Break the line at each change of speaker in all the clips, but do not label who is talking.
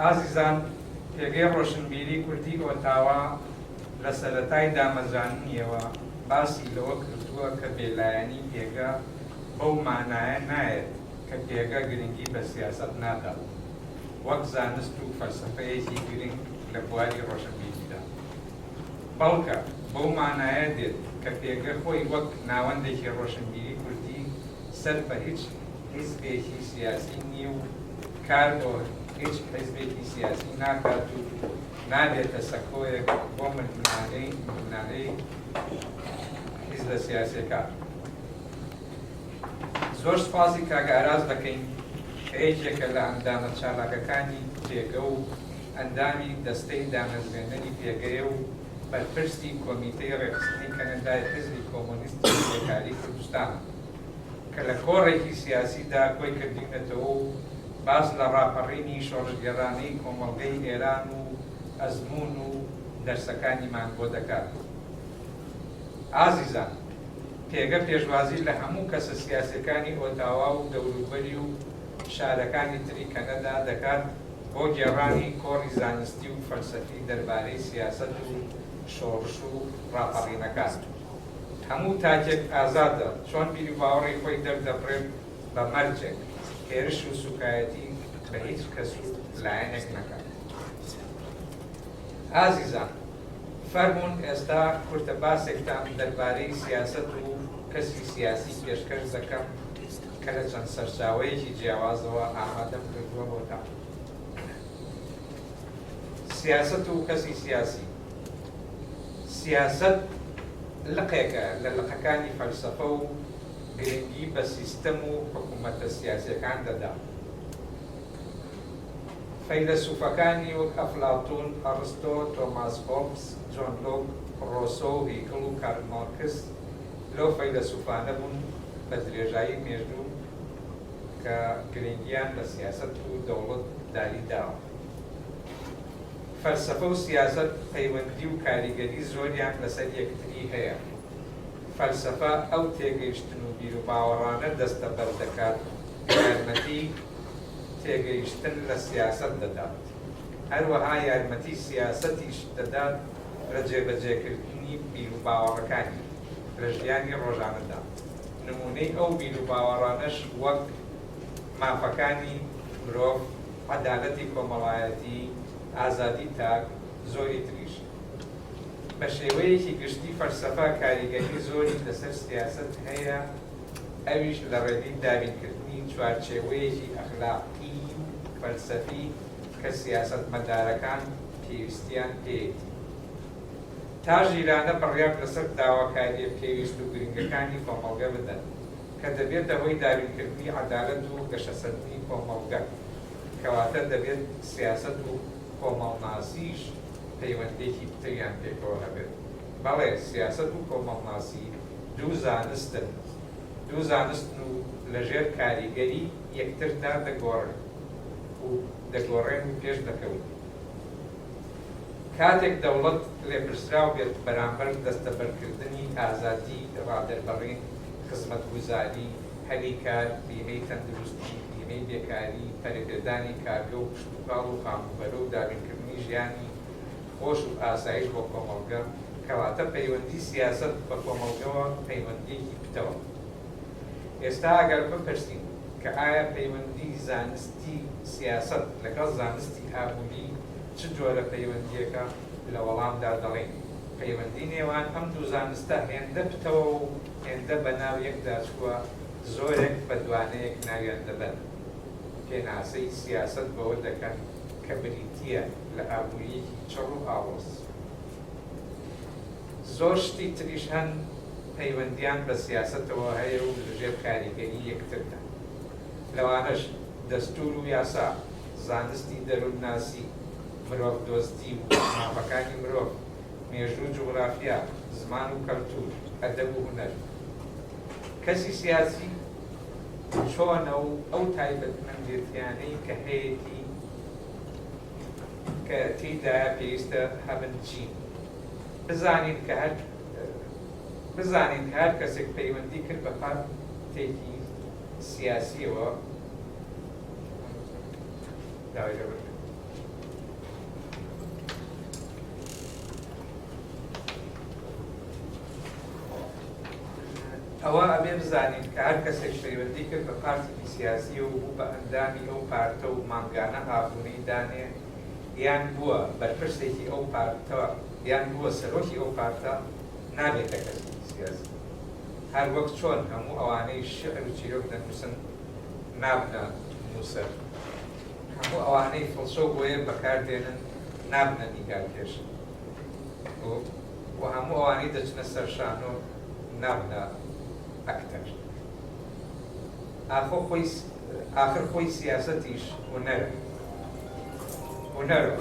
ئازیزان پێگەی ڕۆشنبیری کوردی ئۆتاوا لە سەرەتای دامەزراندنیەوە باسی لەوە کردووە کە بێلایەنی پێگە بەو مانایە نایەت کە پێگە گرنگی بە سیاسەت نادات وەک زانست و فەلسەفەیەکی گرنگ لە بواری ڕۆشنبیریدا بەڵکە بەو مانایە دێت کە پێگە خۆی وەک ناوەندێکی ڕۆشنبیری کوردی سەر بە هیچ حیزبێکی سیاسی نییە و کار بۆ هیچ حیزبێکی سیاسی ناکات و نابێتە سەکۆیەک بۆ ململانێی ململانێی حیزبە سیاسیەکان. زۆر سوپاسی کاک ئاراس دەکەین کە یەکێکە لە ئەندامە چالاکەکانی پێگە و ئەندامی دەستەی دامەزرێنەری پێگەیە و بەرپرسی کۆمیتەی ڕێکخستنی کەنەدای حیزبی کۆمۆنیستی کرێکاریی کوردستانە. کە لە کۆڕێکی سیاسیدا کۆی کردوینەتەوە و باس لە ڕاپەڕینی شۆڕشگێڕانەی کۆمەڵگەی ئێران و ئەزموون و دەرسەکانیمان بۆ دەکات. ئازیزان! پێگە پێشوازی لە هەموو کەسە سیاسیەکانی ئۆتاوا و دەوروبەری و شارەکانی تری کەنەدا دەکات بۆ گێڕانی کۆڕی زانستی و فەلسەفی دەربارەی سیاسەت و شۆڕش و ڕاپەڕینەکان. هەموو تاکێک ئازادە چۆن بیروباوەڕی خۆی دەردەبڕێت بە مەرجێک هێرش و سوکایەتی بە هیچ کەس و لایەنێک نەکات. ئازیزان فەرموون ئێستا کورتە باسێکتان دەربارەی سیاسەت و کەسی سیاسی پێشکەش دەکەم کە لە چەند سەرچاوەیەکی جیاوازەوە ئامادەم کردووە بۆتان. سیاسەت و کەسی سیاسی. سیاسەت لقێکە لە لقەکانی فەلسەفە و گرنگی بە سیستەم و حکوومەتە سیاسییەکان دەدا. فەیلەسووفەکانی وەک ئەفلاتوون، ئەڕستۆ، تۆماس هۆبز، جۆن لۆک، ڕۆسۆ و هیگڵ و کارل مارکس لەو فەیلەسووفانە بوون بە درێژایی مێژوو کە گرنگییان بە سیاسەت و دەوڵەت داری داوە. فەلسەفە و سیاسەت پەیوەندی و کاریگەری زۆریان لەسەر یەکتری هەیە. فەلسەفە ئەو تێگەیشتن و بیروباوەڕانە دەستەبەر دەکات کە یارمەتی تێگەیشتن لە سیاسەت دەدات. هەروەها یارمەتی سیاسەتیش دەدات لە جێبەجێکردنی بیروباوەڕەکانی لە ژیانی ڕۆژانەدا. نموونەی ئەو بیروباوەڕانەش وەک مافەکانی مرۆڤ، عەدالەتی کۆمەڵایەتی، ئازادی تاک، زۆری تریش. بە شێوەیەکی گشتی فەلسەفە کاریگەری زۆری لەسەر سیاسەت هەیە ئەویش لە ڕێگەی دابینکردنی چوارچێوەیەکی ئەخلاقیی و فەلسەفی کە سیاسەتمەدارەکان پێویستیان پێیەتی تا ژیرانە بڕیار لەسەر داواکارییە پێویست و گرنگەکانی کۆمەڵگە بدەن. کە دەبێتە هۆی دابینکردنی عەدالەت و گەشەسەندنی کۆمەڵگە، کەواتە دەبێت سیاسەت و کۆمەڵناسیش پەیوەندییەکی پتریان پێکەوە هەبێت. بەڵێ سیاسەت و کۆمەڵناسی دوو زانستن، دوو زانستن و لەژێر کاریگەری یەکتردا دەگۆڕن و دەگۆڕێن و پێش دەکەون. کاتێک دەوڵەت لێپرسراو بێت بەرامبەر دەستەبەرکردنی ئازادی ڕادەربڕین، خزمەتگوزاری، هەلی کار، بیمەی تەندروستی، بیمەی بێکاری، پەرەپێدانی کارگە و کشتوکاڵ و خانووبەرە و دابینکردنی ژیانی خۆش و ئاسایش بۆ کۆمەڵگە، کەواتە پەیوەندی سیاسەت بە کۆمەڵگەوە پەیوەندییەکی پتەوە. ئێستا ئەگەر بپرسین کە ئایا پەیوەندی زانستی سیاسەت لەگەڵ زانستی ئابووری چ جۆرە پەیوەندییەکە؟ لە وەڵامدا دەڵێین، پەیوەندی نێوان ئەم دوو زانستە هێندە پتەوە و هێندە بە ناو یەکدا چووە، زۆرێک بە دوانەیەک ناویان دەبەن. پێناسەی سیاسەت بەوە دەکەن کە بریتییە لە ئابوورییەکی چڕ و ئاڵۆز. زۆر شتی تریش هەن پەیوەندییان بە سیاسەتەوە هەیە و لە ژێر کاریگەری یەکتردان. لەوانەش دەستوور و یاسا، زانستی دەروونناسی، مرۆڤدۆستی و مافەکانی مرۆڤ، مێژوو و جوغرافیا، زمان و کەلتوور، ئەدەب و هونەر. کەسی سیاسی چۆنە و ئەو تایبەتمەندێتیانەی کە هەیەتی کە تێیدایە پێویستە هەبن چین؟ بزانین کە هەر بزانین کە هەر کەسێک پەیوەندی کرد بە پارتێکی سیاسیەوە داوای لێبوردن. ئەوە ئەبێ بزانین کە هەر کەسێک پەیوەندی کرد بە پارتێکی سیاسی و بوو بە ئەندامی ئەو پارتە و مانگانە ئابوونەی دانێ یان بووە بەرپرسێکی ئەو پارتە یان بووە سەرۆکی ئەو پارتە نابێتە کەسێکی سیاسی هەر وەک چۆن هەموو ئەوانەی شعر و چیرۆک دەنووسن نابنە نووسەر. هەموو ئەوانەی فڵچەو بۆیە بەکار دێنن نابنە نیگارکێش و هەموو ئەوانەی دەچنە سەر شانۆ نابنە ئەکتەر. ئاخۆ خۆی ئاخر خۆی سیاسەتیش هونەرە. هونەرە.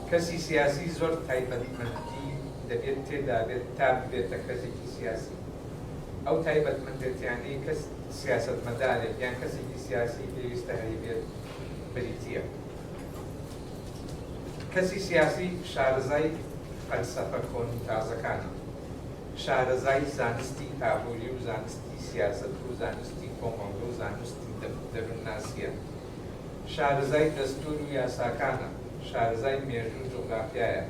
کەسی سیاسی زۆر تایبەتمەندی دەبێت تێدا بێت تا ببێتە کەسێکی سیاسی. ئەو تایبەتمەندێتیانەی کەس سیاسەتمەدارێک یان کەسێکی سیاسی پێویستە هەلی بێت بریتییە کەسی سیاسی شارەزای فەلسەفە کۆن و تازەکانە، شارەزای زانستی ئابووری و زانستی سیاسەت و زانستی کۆمەڵگە و زانستی دەروونناسییە، شارەزای دەستوور و یاساکانە، شارەزای مێژوو و جوغرافیایە،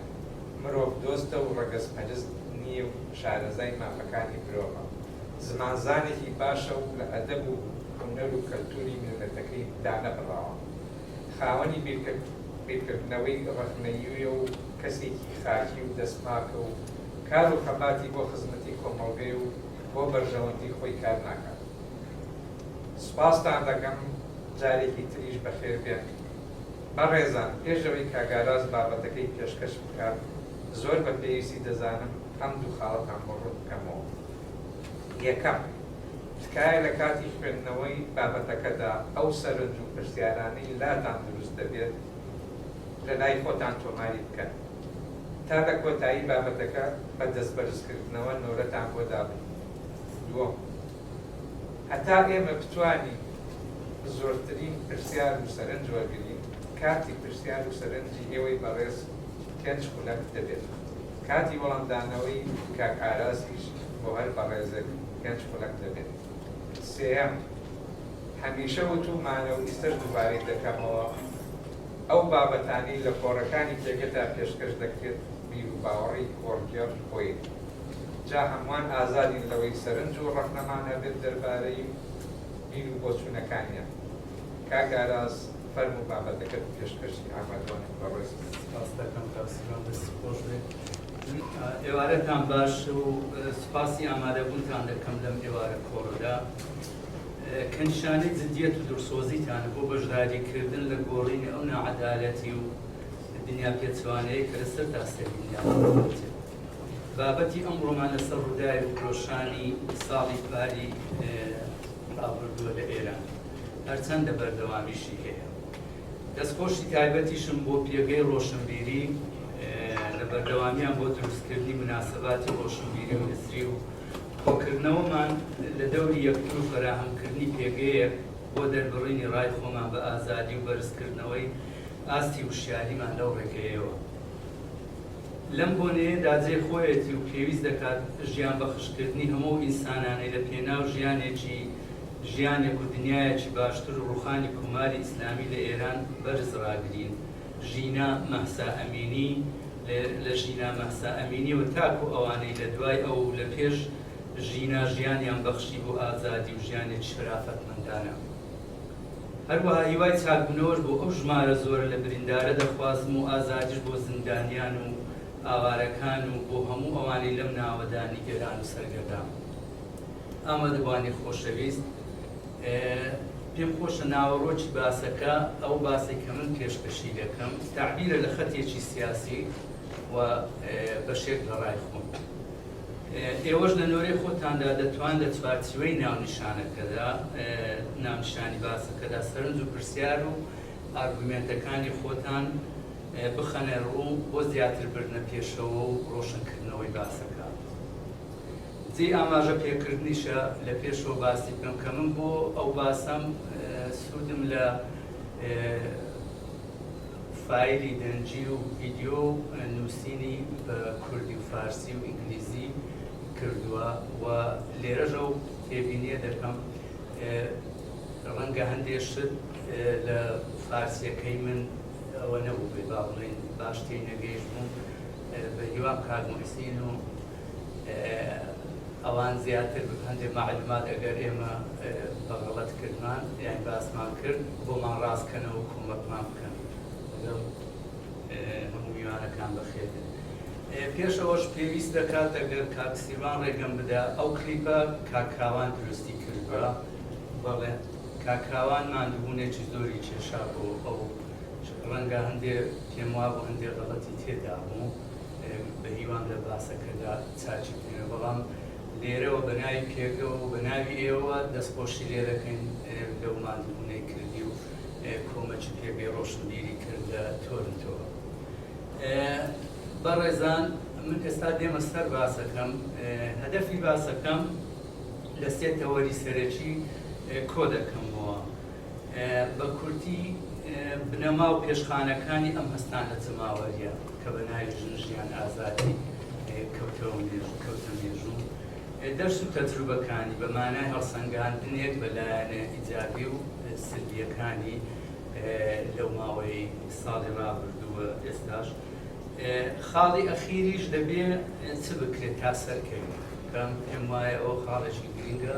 مرۆڤدۆستە و ڕەگەزپەرست نییە و شارەزای مافەکانی مرۆڤە، زمانزانێکی باشە و لە ئەدەب و هونەر و کەلتوری میللەتەکەی دانەبڕاوە، خاوەنی بیرکردنەوەی ڕەخنەییە و کەسێکی خاکی و دەستپاکە و کار و خەباتی بۆ خزمەتی کۆمەڵگەی و بۆ بەرژەوەندی خۆی کار ناکات. سوپاستان دەکەم جارێکی تریش بەخێر بێن. بەڕێزان پێش ئەوەی کاک ئاراس بابەتەکەی پێشکەش بکات زۆر بە پێویستی دەزانم ئەم دوو خاڵەتان بۆ ڕوون بکەمەوە. یەکەم. تکایە لە کاتی خوێندنەوەی بابەتەکەدا ئەو سەرنج و پرسیارانەی لاتان دروست دەبێت لە لای خۆتان تۆماری بکەن تا لە کۆتایی بابەتەکە بە دەستبەرزکردنەوە نۆرەتان بۆ دابنێین دووەم هەتا ئێمە بتوانین زۆرترین پرسیار و سەرنج وەرگرین کاتی پرسیار و سەرنجی ئێوەی بەڕێز پێنج خولەک دەبێت. کاتی وەڵامدانەوەی کاک ئارازیش بۆ هەر بەڕێزێک پێنج خولەک دەبێت. سێیەم، هەمیشە وتوومانە و ئیستەش دووبارەی دەکەمەوە، ئەو بابەتانەی لە کۆڕەکانی پێگەدا پێشکەش دەکرێت بیروباوەڕی کۆڕگێڕ خۆیەتی، جا هەمووان ئازادین لەوەی سەرنج و ڕەخنەمان هەبێت دەربارەی بیر و بۆچوونەکانیان. کاک ئاراز. فەرموو بابەتەکەت پێشکەشی ئامادەوانم بەڕێز من. سپاس دەکەم کاک سیروان دەستی خۆش بێت ئێوارەتان باش و سپاسی ئامادەبوونتان دەکەم لەم ئێوارە کۆڕەدا کە نیشانەی جدیەت و دڵسۆزیتانە بۆ بەشداریکردن لە گۆڕینی ئەو ناعەدالەتی و دنیا پێچوانەیە کە لەسەر تاسەری دنیا بابەتی ئەمڕۆمان لەسەر ڕووداوی فرۆشانی ساڵی پاری ڕابردووە لە ئێران هەرچەندە بەردەوامیشی هەیە. دەستخۆشی تایبەتیشم بۆ پێگەی ڕۆشنبیری لە بەردەوامیان بۆ دروستکردنی مناسەباتی ڕۆشنبیری و هزری و کۆکردنەوەمان لە دەوری یەکتر و فەراهەمکردنی پێگەیەک بۆ دەربڕینی ڕای خۆمان بە ئازادی و بەرزکردنەوەی ئاستی وشیاریمان لەو ڕێگەیەوە. لەم بۆنەیەدا جێی خۆیەتی و پێویست دەکات ژیان بەخشکردنی هەموو ئەو ئینسانانەی لە پێناو ژیانێکی ژیانێک و دنیایەکی باشتر و ڕوخانی کۆماری ئیسلامی لە ئێران بەرز ڕاگرین ژینا مەهسا ئەمینی لە لە ژینا مەهسا ئەمینیەوە تاکو ئەوانەی لە دوای ئەو و لە پێش ژینا ژیانیان بەخشی بۆ ئازادی و ژیانێکی شەرافەتمەندانە. هەروەها هیوای چاکبوونەوەش بۆ ئەو ژمارە زۆرە لە بریندارە دەخوازم و ئازادیش بۆ زیندانیان و ئاوارەکان و بۆ هەموو ئەوانەی لەم ناوەدا نیگەران و سەرگەردان. ئامادەبووانی خۆشەویست، پێم خۆشە ناوەڕۆکی باسەکە، ئەو باسەی کە من پێشکەشی دەکەم، تەعبیرە لە خەتێکی سیاسی و بەشێک لە ڕای خۆم. ئێوەش لە نۆرەی خۆتاندا دەتوان لە چوارچیوەی ناونیشانەکەدا، ناونیشانی باسەکەدا، سەرنج و پرسیار و ئارگومێنتەکانی خۆتان بخەنە ڕوو بۆ زیاتر بردنە پێشەوە و ڕۆشنکردنەوەی باسەکە. جێی ئاماژە پێکردنیشە لە پێشەوە باسی بکەم کە من بۆ ئەو باسەم سوودم لە، فایلی دەنگی و ڤیدیۆ و نووسینی بە کوردی و فارسی و ئینگلیزی کردووە و لێرەش ئەو تێبینییە دەکەم ڕەنگە هەندێ شت لە فارسییەکەی من ئەوە نەبووبێ با بڵێین باش تێی نەگەیشتبووم بە هیوام کاک موحسین و ئەوان زیاتر هەندێ مەعلومات ئەگەر ئێمە بە غەڵەت کردمان یان باسمان کرد بۆمان ڕاست کەنەوە کۆمەکمان بکەن لەگەڵ هەموو میوانەکان بەخێربێن پێش ئەوەش پێویست دەکات ئەگەر کاک سیروان ڕێگەم بدا ئەو کلیپە کاکراوان دروستی کردووە بەڵێ کاکراوان ماندووبوونێکی زۆری کێشا بۆ ئەو ڕەنگە هەندێ پێم وابوو هەندێ غەڵەتی تێدا بوو بەهیوام لە باسەکەدا چاکی بکەنەوە بەڵام لێرەوە بەناوی پێکەوە و بەناوی ئێوەوە دەستخۆشی لێدەکەین لەو ماندوبونەی کردی و کۆمەکی پێگەی ڕۆشنبیری کردە تۆرنتۆوە. بەڕێزان من ئێستا دێمە سەر باسەکەم هەدەفی باسەکەم لە سێ تەوەری سەرەکی کۆ دەکەمەوە بە کورتی بنەما و پێشخانەکانی ئەم هەستانە جەماوەریە. کە بە ناوی ژن ژیان ئازادی کەوتەوە مێژوو کەوتە مێژوو دەرس و تەجروبەکانی بە مانای هەڵسەنگاندنێک بە لایەنە ئیجابی و سلبیەکانی لەو ماوەی ساڵی ڕابردووە ئێستاش خاڵی ئەخیریش دەبێ چ بکرێت تا سەرکەوی کەم پێم وایە ئەو خاڵێکی گرنگە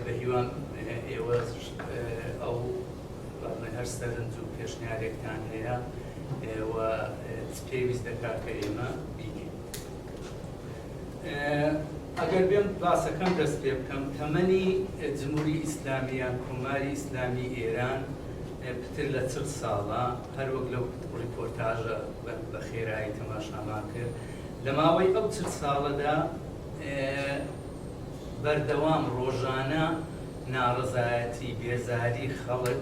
بە هیوام ئێوە ئەو هەر سەرنج و پێشنیارێکتان هەیە و چ پێویست دەکات کە ئێمە بیکەین ئەگەر بێم باسەکەم دەست پێ بکەم تەمەنی جمهوری ئیسلامیان کۆماری ئیسلامی ئێران پتر لە چل ساڵە هەروەک لەو ڕیپۆرتاژە بە خێرایی تەماشامان کرد لە ماوەی ئەو چل ساڵەدا بەردەوام ڕۆژانە ناڕزایەتی بێزاری خەڵک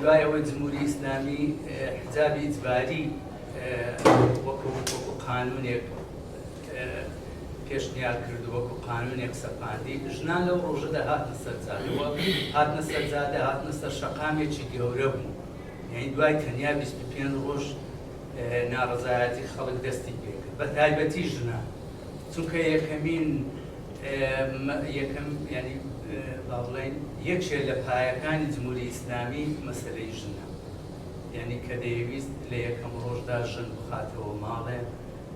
دوای ئەوەی جمهوری ئیسلامی حجابی ئیجباری وەکو قانونێک پێشنیار کرد و وەکو قانونێک سەپاندی ژنان لەو ڕۆژەدا هاتنە سەرجادەوە هاتنە سەرجادە هاتنە سەر شەقامێکی گەورە بوو یعنی دوای تەنیا 25 ڕۆژ ناڕزایەتی خەڵک دەستی پێکرد بە تایبەتی ژنان چونکە یەکەمین یەکەم یانی با بڵێین یەکێ لە پایەکانی جمهوری ئیسلامی مەسەلەی ژنە یانی کە دەیەویست لە یەکەم ڕۆژدا ژن بخاتەوە ماڵێ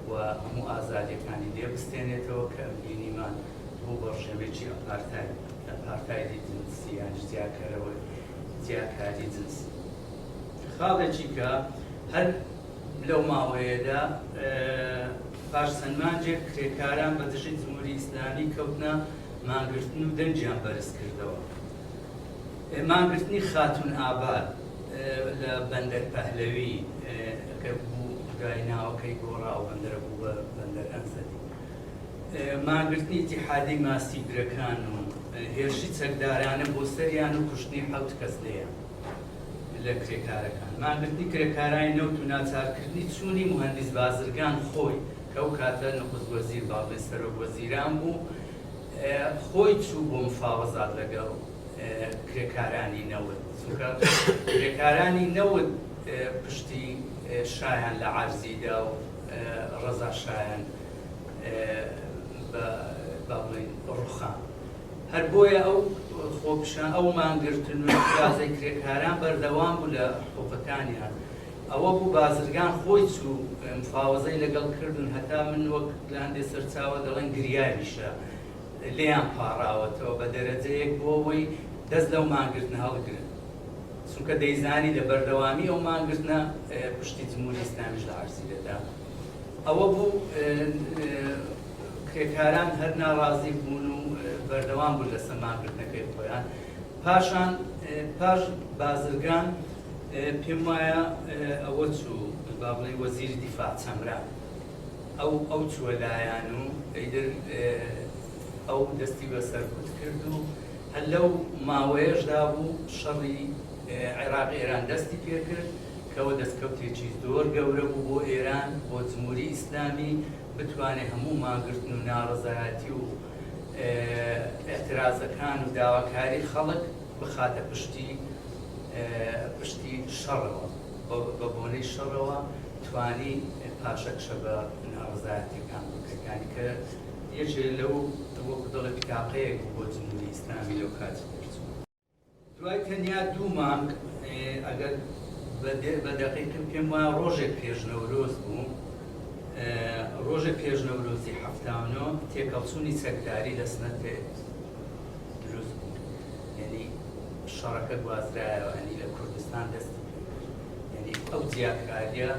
و هەموو ئازادیەکانی لێ بستێنێتەوە کە بینیمان بوو بە ڕژێمێکی ئەپارتاید ئەپارتایدی جنسی یانی جیاکەرەوە جیاکاری جنسی خاڵێکی کە هەر لەو ماوەیەدا پاش چەند مانگێک کرێکاران بە دژی جمهوری ئیسلامی کەوتنە مانگرتن و دەنگیان بەرز کردەوە. مانگرتنی خاتوون ئاباد لە بەندەر پەهلەوی کە بوو دوای ناوەکەی گۆڕا و بەندەرە بوو بە بەندەر ئەنزەلی. مانگرتنی ئیتیحادی ماسیگرەکان و هێرشی چەکدارانە بۆ سەریان و کوشتنی حەوت کەس لێیان. لە کرێکارەکان، مانگرتنی کرێکارانی نەوت و ناچارکردنی چوونی موهەندیس بازرگان خۆی کە ئەو کاتە نخست وەزیر بازنەی سەرۆک وەزیران بوو خۆی چوو بۆ مفاوەزات لەگەڵ کرێکارانی نەوت چونکە کرێکارانی نەوت پشتی شایان لە عەرزیدا و ڕەزا شایان بە با بڵێین ڕوخان هەر بۆیە ئەو خۆپیشان ئەو مانگرتن و ئیترازەی کرێکاران بەردەوام بوو لە حقوقەکانیان ئەوە بوو بازرگان خۆی چوو مفاوەزەی لەگەڵ کردن هەتا من وەک لە هەندێ سەرچاوە دەڵێن گریاویشە لێیان پاڕاوەتەوە بە دەرەجەیەک بۆ ئەوەی دەست لەو مانگرتنە هەڵگرن چونکە دەیزانی لە بەردەوامی ئەو مانگرتنە پشتی جمهوری ئیسلامیش لە عەرزی دەدا ئەوە بوو کرێکاران هەر ناڕازی بوون و بەردەوام بوون لەسەر مانگرتنەکەی خۆیان، پاشان پاش بازرگان پێم وایە ئەوە چوو با بڵێین وەزیری دیفاع چەمران ئەو ئەو چووە لایان و ئەیدر ئەو دەستی بە سەرکوت کرد و هەر لەو ماوەیەشدا بوو شەڕی عێراق ئێران دەستی پێکرد کەەوە دەستکەوتێکی زۆر گەورە بوو بۆ ئێران بۆ جمهوری ئیسلامی بتوانێ هەموو مانگرتن و ناڕەزایەتی و ئیعترازەکان و داواکاری خەڵک بخاتە پشتی پشتی شەڕەوە بە بۆنەی شەڕەوە توانی پاشەکشە بە ناڕەزایەتیەکان بکەێت یانی کە یەکێ لەو وەکو دەڵێ بتاقەیەک بوو بۆ جمهوری ئیسلامی لەو کاتی دەرچوو. دوای تەنیا دوو مانگ، ئەگەر بە دەقیقی پێم وایە ڕۆژێک پێش نەورۆز بوو، ڕۆژێک پێش نەورۆزی حەفتا و نۆ تێکەڵچوونی چەکداری لە سنە تێ دروست بوو. یەنی شەڕەکە گوازرایەوە، یەنی لە کوردستان دەستی پێ کرد. یەنی ئەو جیاکارییە،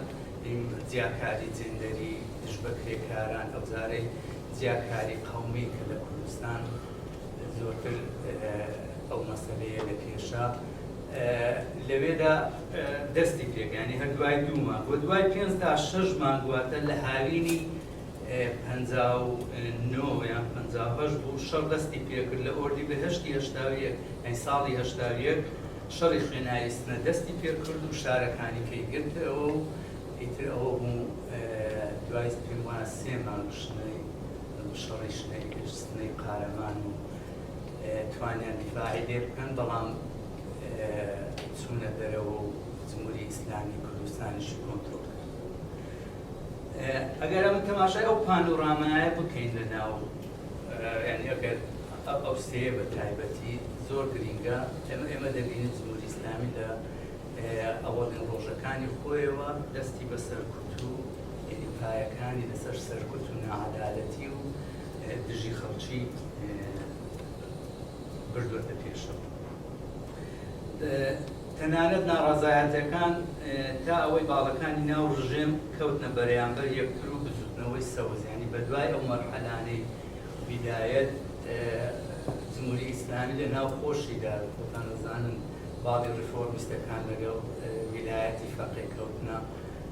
جیاکاری جێندەری دژ بە کرێکاران، ئەوجارەی جیاکاری قەومی کە لە کوردستان زۆرتر ئەو مەسەلەیە لە کێشا لەوێدا دەستی پێگانی هەر دوای دوو مانگ و دوای پێنج تا شەش مانگ واتە لە هاوینی پەنجا و نۆ یان پەنجا و هەشت بوو شەڕ دەستی پێکرد لە ئۆردی بەهەشتی هەشتا و یەک ئەی ساڵی هەشتا و یەک شەڕی خوێناوی سنە دەستی پێکرد و شارەکانی کەی گرتەوە و ئیتر ئەوە بوو دوای پێم وایە سێ مانگ شنەی شەڕی شنەی سنەی قارەمان و توانیان دیفاعی لێ بکەن بەڵام چوونە دەرەوە و جمهوری ئیسلامی کوردستانیش کۆنترۆڵ کرد ئەگەر ئەمە تەماشای ئەو پانۆرامایە بکەین لە ناو یعنی ئەگەر ئەو سەیە بە تایبەتی زۆر گرینگە ئەمە ئێمە دەبینین جمهوری ئیسلامی لە ئەوەڵێن ڕۆژەکانی خۆیەوە دەستی بە سەرکوت و یعنی پایەکانی لەسەر سەرکوت و نەعەدالەتی و دژی خەڵکی بردوەتە پێشەوە تەنانەت ناڕازایەتەکان تا ئەوەی باڵەکانی ناو ڕژێم کەوتنە بەرەیانبەر یەکتر و بزوتنەوەی سەوزیانی بە دوای ئەو مەرحەلانەی بدایەت جمهوری ئیسلامی لە ناو خۆشیدا خۆتان دەزانن باڵی ڕفۆرمیستەکان لەگەڵ ویلایەتی فەقێ کەوتنە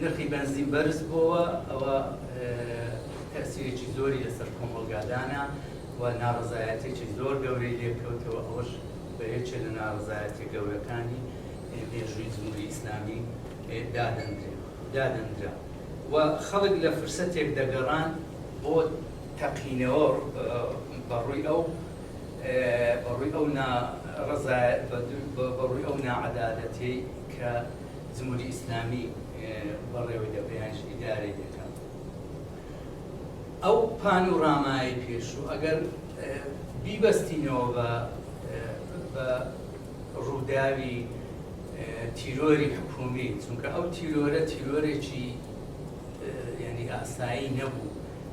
نرخی بەنزین بەرز بۆوە ئەوە تەئسیرێکی زۆری لەسەر کۆمەڵگا دانا و ناڕەزایەتیەکی زۆر گەورەی لێکەوتەوە ئەوەش بە یەکێ لە ناڕەزایەتیە گەورەکانی مێژووی جموری ئیسلامی دادەندرێ دادەندرا و خەڵک لە فرسەتێک دەگەڕان بۆ تەقینەوە بەڕووی ئەو بەڕووی ئەو ناڕەزایەت بەڕووی ئەو ناعەدالەتەی کە جمهوری ئیسلامی بەڕێوەی دەبرێ یانیش ئیدارەی دەکات. ئەو پانۆرامایەی پێشوو ئەگەر بیبەستینەوە بە بە ڕووداوی تیرۆری حکومی چونکە ئەو تیرۆرە تیرۆرێکی ینی ئاسایی نەبوو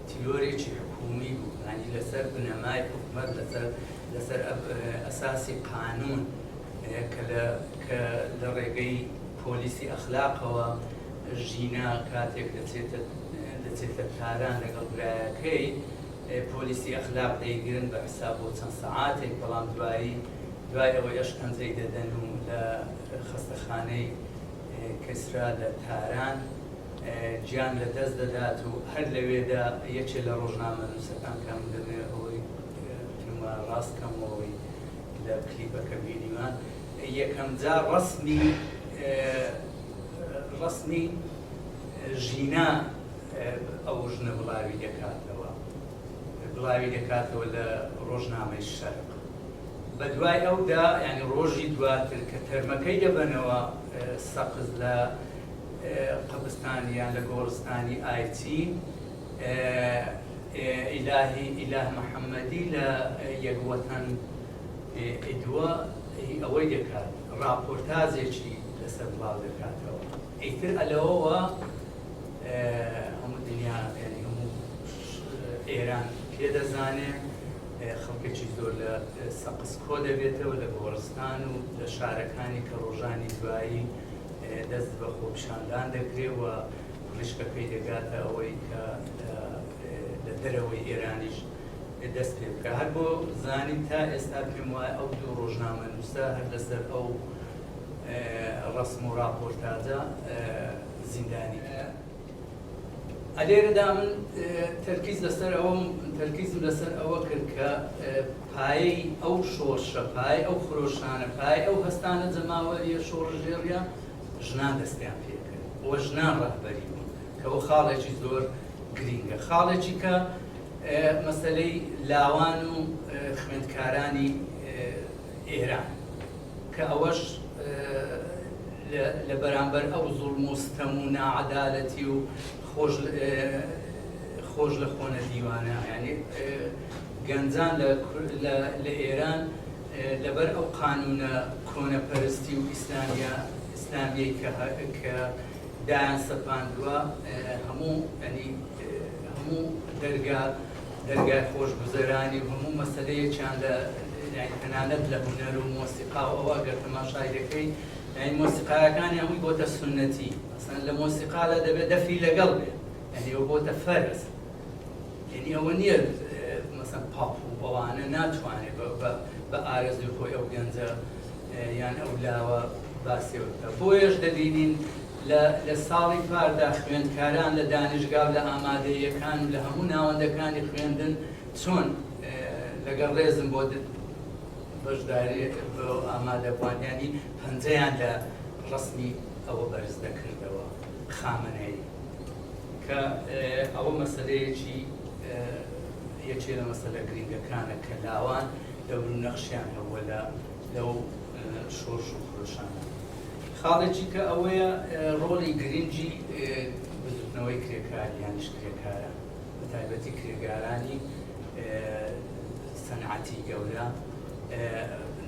تیرۆرێکی حکومی بوو ینی لەسەر بنەمای حکومت لەسەر لەسەر ئەساسی قانون کە لە کە لە ڕێگەی پۆلیسی ئەخلاقەوە ژینا کاتێک دەچێتە تاران لەگەڵ برایەکەی، پۆلیسی ئەخلاق دەیگرن بە حساب بۆ چەند سەعاتێک، بەڵام دوایی دوای ئەوەی ئەشکەنجەی دەدەن و لە خەستەخانەی کسرا لە تاران گیان لە دەست دەدات و هەر لەوێدا یەکێ لە ڕۆژنامەنووسەکان کە من دەمەوێ ئەوەی بتنم ڕاست کەمەوەی لە کلیپەکە بینیوە، یەکەمجار ڕەسمی ڕەسمی ژینا ئەو ژنە بڵاوی دەکاتەوە بڵاوی دەکاتەوە لە ڕۆژنامەی شەرق بەدوای ئەودا یعنی ڕۆژی دواتر کە تەرمەکەی دەبەنەوە سەقز لە قبستانیان لە گۆڕستانی ئایچین ئیلاهی ئیلاه محەممەدی لە یەک وەتەن ئیدوە هی ئەوەی دەکات ڕاپۆرتازێکی لەسەر بڵاو دەکاتەوە ئیتر ئەلەوەوە هەموو دنیا یعنی هەموو ئێران پێ دەزانێ خەڵکێکی زۆر لە سەقز کۆ دەبێتەوە لە گۆڕستان و لە شارەکانی کە ڕۆژانی دوایی دەست بە خۆپشاندان دەکرێ و پڕیشکەکەی دەگاتە ئەوەی کە لە دەرەوەی ئێرانیش دەست پێ بکا هەر بۆ زانین تا ئێستا پێم وایە ئەو دوو ڕۆژنامەنووسە هەر لەسەر ئەو ڕسم و ڕاپۆرتاجە زیندانی ئەلێرەدا من تەرکیز لەسەر ئەوم تەرکیزم لەسەر ئەوە کرد کە پایەی ئەو شۆڕشە پای ئەو خرۆشانە پای ئەو هەستانە جەماوەریە شۆڕژێڕە ژنان دەستیان پێکرد وە ژنان ڕەهبەری بوون کەەوە خاڵێکی زۆر گرینگە خاڵێکی کە مەسەلەی لاوان و خوێندکارانی ئێران کە ئەوەش لە بەرامبەر ئەو زوڵم و ستەم و ناعەدالەتی و خۆش خۆش لە خۆ نەدیوانە یعنی گەنجان لە ئێران لەبەر ئەو قانونە کۆنەپەرستی و ئیسلامیە ئیسلامیەی کە دایان سەپاندوە هەموو یانی هەموو دەرگا دەرگای خۆشگوزەرانی و هەموو مەسەلەیەکیان لە یانی تەنانەت لە هونەر و مۆسیقا و ئەوە گەر تەماشای دەکەی یانی مۆسیقایەکانی هەمووی بۆتە سونەتی مەسەلەن لە مۆسیقادا دەبێ دەفی لەگەڵ بێ یانی ئەوە بۆتە فەرز یەنی ئەوە نیە مەسەن پاپ و ئەوانە ناتوانێ بە ئارەزوی خۆی ئەو گەنجە یان ئەو لاوە باسیەوە بکە بۆیەش دەبینین لە ساڵی پاردا خوێندکاران لە دانیشگا و لە ئامادەیەکان و لە هەموو ناوەندەکانی خوێندن چۆن لەگەڵ ڕێزم بۆ بەشداری ئامادەبووانیانی پەنجەیان لە ڕسمی ئەوە بەرز دەکردەوە خامەنەی کە ئەوە مەسەلەیەکی یەکێ لە مەسەلە گرینگەکانە کە لاوان دەور و نەخشیان هەبووە لە لەو شۆرش و خرۆشانە خاڵێکی کە ئەوەیە ڕۆڵی گرنگی بزوتنەوەی کرێکار یانیش کرێکارە بە تایبەتی کرێگارانی سەنعەتی گەورە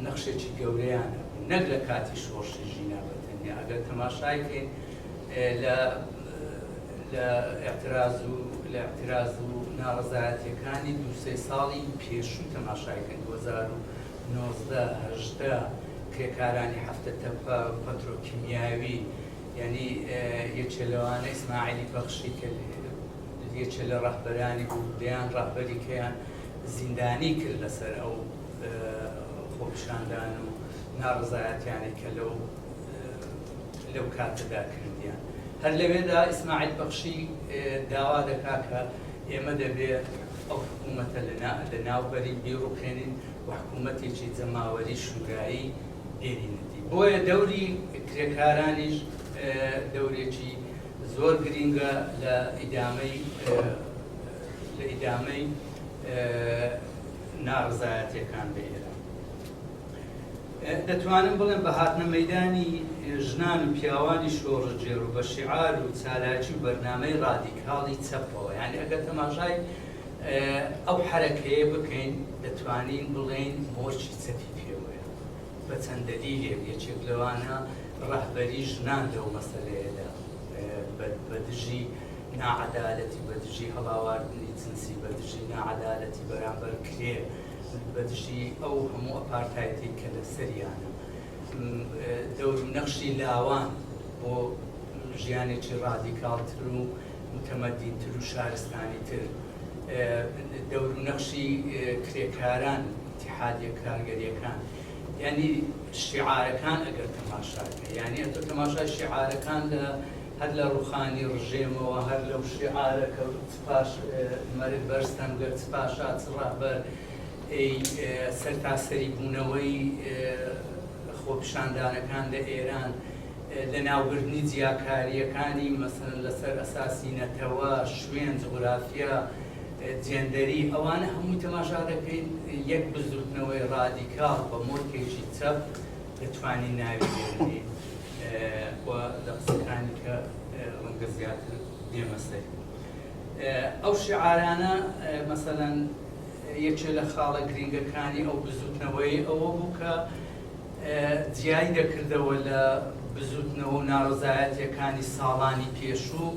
نەخشێکی گەورەیان نەک لە کاتی شۆڕشی ژینا بەتەنیا ئەگەر تەماشایکەین لە لە ئیعتراز و لە ئیعتراز و ناڕەزایەتیەکانی دوو سێ ساڵی پێشوو تەماشای کەن دوو هەزار و نۆزدە هەژدە کرێکارانی هەفتە تەپە پەترۆکیمیاوی یعنی یەکێ لەوانە ئیسماعیلی بەخشی کە یەکێ لە ڕەهبەرانی بوو دەیان ڕەهبەری کەیان زیندانی کرد لەسەر ئەو خۆپیشاندان و ناڕزایەتیانی کە لەو لەو کاتەدا کردیان. هەر لەوێدا ئیسماعیل بەخشی داوا دەکات کە ئێمە دەبێت ئەو حکوومەتە لەناوبەرین، بیڕووخێنین و حکوومەتێکی جەماوەری شوورایی بێنینە دی. بۆیە دەوری کرێکارانیش دەورێکی زۆر گرینگە لە ئیدامەی ناڕەزایەتییەکان لە ئێران. دەتوانم بڵێم بە هاتنە مەیدانی ژنان و پیاوانی شۆڕشگێڕ و بە شیعار و چالاکی و بەرنامەی ڕادیکاڵی چەپەوە یانی ئەگەر تەماشای ئەو حەرەکەیە بکەین دەتوانین بڵێین مۆرکی چەپی پێوەیە بە چەند دەلیلێک یەکێک لەوانە ڕەهبەری ژنان لەو مەسەلەیەدا بە دژی ناعەدالەتی بە دژی هەڵاواردنی جنسی بە دژی ناعەدالەتی بەرامبەر کرێ من بەدژی ئەو هەموو ئەپارتایتەی کە لەسەریانم، دەورو نەخشی لاوان بۆ ژیانێکی ڕادیکاڵتر و متەمەدینتر و شارستانیتر، دەورو نەخشی کرێکاران، ئیتیحادیە کارگەریەکان، یانی شیعارەکان ئەگەر تەماشاکەی یانی ئەتۆ تەماشای شیعارەکان لە هەر لە ڕوخانی ڕژێمەوە هەر لەو شیعارە کە سپاش مەرگ بەر سەنگەر چ پاشا چ ڕەهبەر ی سەرتاسەری بوونەوەی خۆپیشاندانەکان لە ئێران لە ناوبردنی جیاکارییەکانی مەسەلەن لەسەر ئەساسی نەتەوە، شوێن، جوغرافیا، جێندەری ئەوانە هەمووی تەماشا دەکەین یەک بزووتنەوەی ڕادیکاڵ بە مۆرکێکی چەپ دەتوانین ناوی بێنین و لە قسەکانی کە ڕەنگە زیاتر نێمەستەی ئەو شیعارانە مەسەلەن یەکێ لە خاڵە گرینگەکانی ئەو بزووتنەوەی ئەوە بوو کە جیای دەکردەوە لە بزووتنەوە و ناڕەزایەتیەکانی ساڵانی پێشوو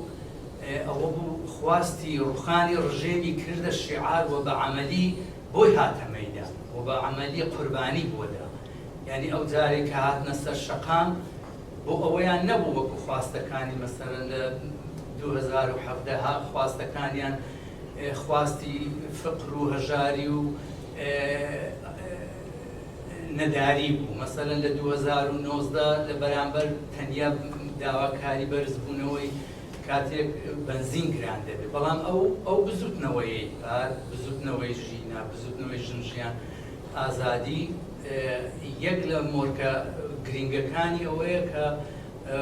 ئەوە بوو خواستی ڕوخانی ڕژێمی کردە شیعار و بە عەمەلی بۆی هاتە مەیدان و بە عەمەلی قوربانی بۆدا یانی ئەو جارێک کە هاتنە سەر شەقام بۆ ئەوەیان نەبوو وەکو خواستەکانی مەسەلەن لە دوو هەزار و حەڤدە ها خواستەکانیان خواستی فقر و هەژاری و نەداری بوو مەسەلەن لە دوو هەزار و نۆزدە لە بەرامبەر تەنیا داواکاری بەرزبوونەوەی کاتێک بەنزین گران دەبێت بەڵام ئەو ئەو بزوتنەوەی پار بزوتنەوەی ژینا بزوتنەوەی ژن ژیان ئازادی یەک لە مۆرکە گرینگەکانی ئەوەیە کە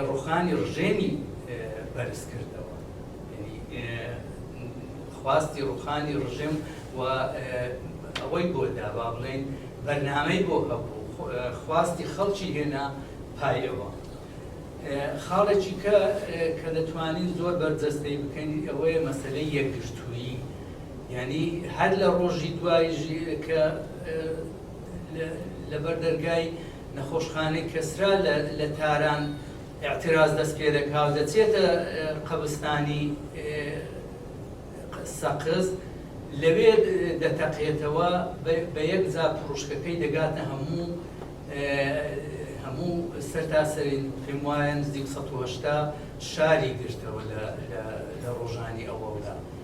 ڕوخانی ڕژێمی بەرز کردەوە یەنی خواستی ڕوخانی ڕژێم و ئەوەی بۆ دا با بڵێین بەرنامەی بۆ هەبوو خواستی خەڵکی هێنا پای ئەوە خاڵێکی کە کە دەتوانین زۆر بەرجەستەی بکەین ئەوەیە مەسەلەی یەکگرتوویی یەنی هەر لە ڕۆژی دوای ژی کە لەبەر دەرگای نەخۆشخانەی کەسرا لە تاران ئیعتراز دەست پێ دەکا و دەچێتە قەبستانی سەقز لەوێ دەتەقێتەوە بە یەک جا پڕوشکەکەی دەگاتە هەموو هەموو سەرتاسەری پێم وایە نزیک سەد و هەشتا شاری گرتەوە لە ڕۆژانی ئەوەڵدا.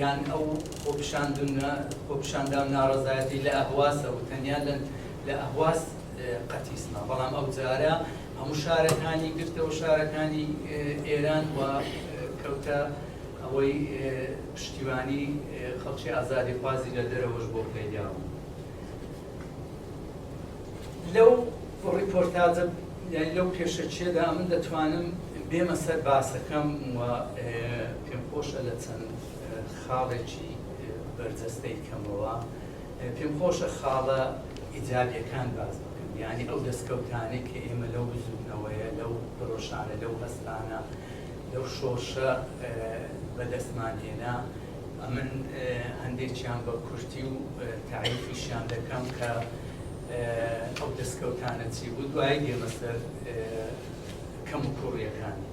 یان ئەو خۆپیشاندنە خۆپیشاندان و ناڕەزایەتی لە ئەهوازە و تەنیا لە ئەهواز قەتیس ما، بەڵام ئەوجارە هەموو شارەکانی گرتەوە شارەکانی ئێران و کەوتە ئەوەی پشتیوانی خەڵکی ئازادیخوازی لە دەرەوەش بۆ پەیدا بوو. لەو ڕیپۆرتاجە یان لەو پێشەکیەدا من دەتوانم بێمە سەر باسەکەم و پێم خۆشە لە چەند خاڵێکی بەرجەستەی کەمەوە پێم خۆشە خاڵە ئیجابیەکان باز بکەم یعنی ئەو دەستکەوتانێک کە ئێمە لەو بزوتنەوەیە لەو پرۆشانە لەو هەستانە لەو شۆرشە بەدەستمان هێنا ئەمن هەندێکیان بە کورتی و تاریفیشیان دەکەم کە ئەو دەستکەوتانە چی بوو دوایی دێمە سەر کەم و کوڕیەکانی.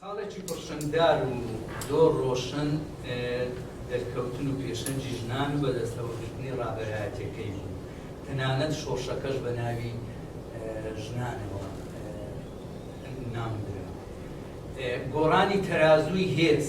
خاڵێکی پڕشنگدار و زۆر ڕۆشن دەرکەوتن و پێشەنگی ژنان و بەدەستەوە گرتنی ڕابەرایەتیەکەی بوو تەنانەت شۆڕشەکەش بە ناوی ژنانەوە ناونرا. گۆڕانی تەرازووی هێز.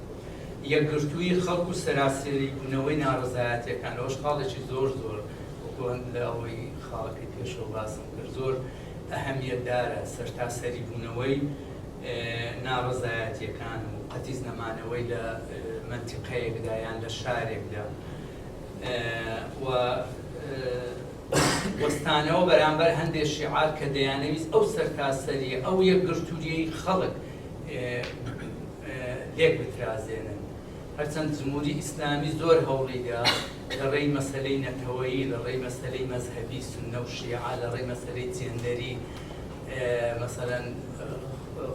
یەکگرتوویی خەڵک و سەراسەری بوونەوەی ناڕەزایەتیەکان لەوەش خاڵێکی زۆر زۆر وەکو هەند لە ئەوەی خاڵەکەی پێشەوە باسم کرد زۆر ئەهەمیەت دارە سەرتاسەری بوونەوەی ناڕەزایەتیەکان و قەتیس نەمانەوەی لە مەنتیقەیەکدا یان لە شارێکدا و وەستانەوە بەرامبەر هەندێک شیعار کە دەیانەویست ئەو سەرتاسەریە ئەو یەکگرتوویی خەڵک لێک بترازێنن. هەرچەند جمهوری ئیسلامی زۆر هەوڵی دا لە ڕێی مەسەلەی نەتەوەیی، لە ڕێی مەسەلەی مەزهەبی، سوننە و شیعە، لە ڕێی مەسەلەی جێندەری، مەسەلەن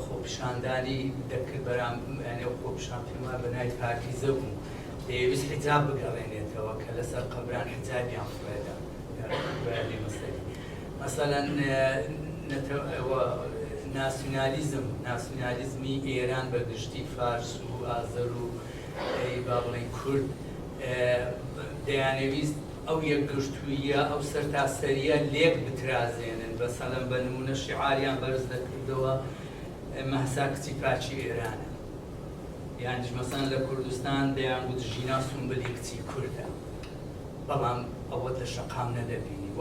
خۆپیشاندانی دەکرد بەرامبەر نێو خۆپیشان پێمان بە ناوی پاکیزە بوو، دەیەویست حیجاب بگەڕێنێتەوە کە لەسەر قەبران حیجابیان فڕێدا. مەسەلەن نەتەوە و ناسیونالیزم، ناسیونالیزمی ئێران بە گشتی، فارس و ئازەر و با بڵێین کورد دەیانەویست ئەو یەکگرتووییە، ئەو سەرتاسەرییە لێک بترازێنن، مەسەلەن بە نموونە شیعاریان بەرز دەکردەوە مەهسا کچی پاکی ئێرانە، یانیش مەسەلەن لە کوردستان دەیانگوت ژینا سومبلی کچی کوردە. بەڵام ئەوەت لە شەقام نەدەبینی و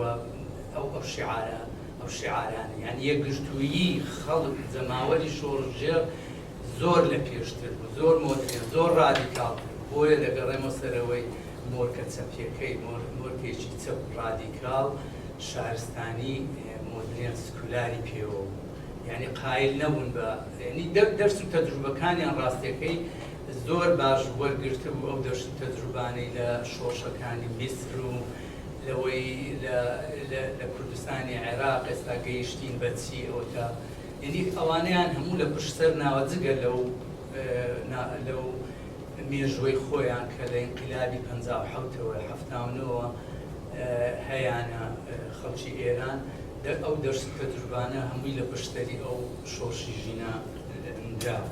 ئەو ئەو شیعارە ئەو شیعارانە یان یەکگرتوویی خەڵک جەماوەری شۆڕشگێڕ زۆر لە پێشتر بوو زۆر مۆدرێن زۆر ڕادیکاڵتر بوو بۆیە دەگەڕێمەوە سەرەوەی مۆرکە چەپیەکەی مۆر مۆرکێکی چەپ ڕادیکاڵ شارستانی مۆدرێن سکولاری پێوە بوو یعنی قایل نەبوون بە یعنی دەرس و تەجروبەکانیان ڕاستیەکەی زۆر باش وەرگرتبوو ئەو دەشت و تەجروبانەی لە شۆڕشەکانی میسر و لەوەی لە لە کوردستانی عێراق ئێستا گەیشتین بە چی ئەوەتا یەنی ئەوانەیان هەموو لە پشت سەر ناوە جگە لەو نا لەو مێژوەی خۆیان کە لە ئینقلابی پەنجا و حەوت تەوە حەفتا و نۆ وە هەیانە خەڵکی ئێران دە ئەو دەشت و تەجروبانە هەمووی لە پشت سەری ئەو شۆڕشی ژینا نراوە.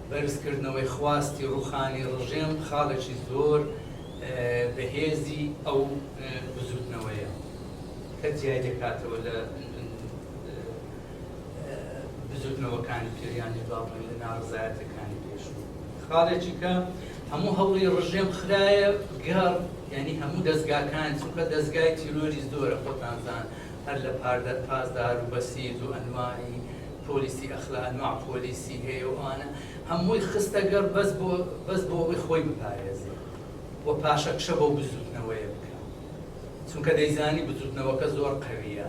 بەرزکردنەوەی خواستی ڕووخانی ڕژێم خاڵێکی زۆر بەهێزی ئەو بزووتنەوەیە کە جیای دەکاتەوە لە بزووتنەوەکانی پێش یان با بڵێین لە ناڕەزایەتەکانی پێشوو. خاڵێکی کە هەموو هەوڵی ڕژێم خرایە گەڕ یعنی هەموو دەستگاکان چونکە دەستگای تیرۆری زۆرە خۆتانزان هەر لە پاردەر پاسدار و بەسیج و ئەنواعی پۆلیسی ئەخلاق نوع پۆلیسی هەیە و ئەوانە هەمووی خستە گەڕ بەس بۆ بەس بۆ ئەوەی خۆی بپارێزێ و پاشەکشە بەو بزووتنەوەیە بکا چونکە دەیزانی بزووتنەوەکە زۆر قەویە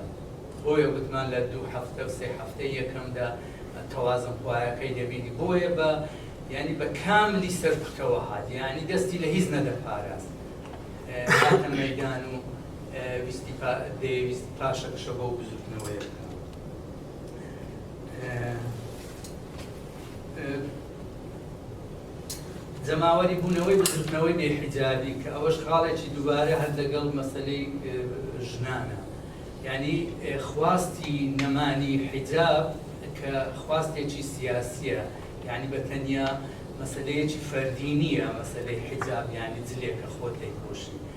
بۆیە گوتمان لە دوو هەفتە و سێ هەفتەی یەکەمدا تەوازن خوایەکەی دەبینی بۆیە بە یعنی بە کاملی سەرکوتەوە هات یعنی دەستی لە هیچ نەدەپاراست هاتە مەیدان و ویستی پا دەیویست پاشەکشە بەو بزووتنەوەیە بکا. جەماوەری بوونەوەی بزرتنەوەی بێحیجابی کە ئەوەش خاڵێکی دووبارە هەر لەگەڵ مەسلەی ژنانە ینی خواستی نەمانی حیجاب کە خواستێکی سیاسیە ینی بە تەنیا مەسلەیەکی فەردی نییە مەسلەی حیجاب ینی جلێکە خۆت لێ پۆشی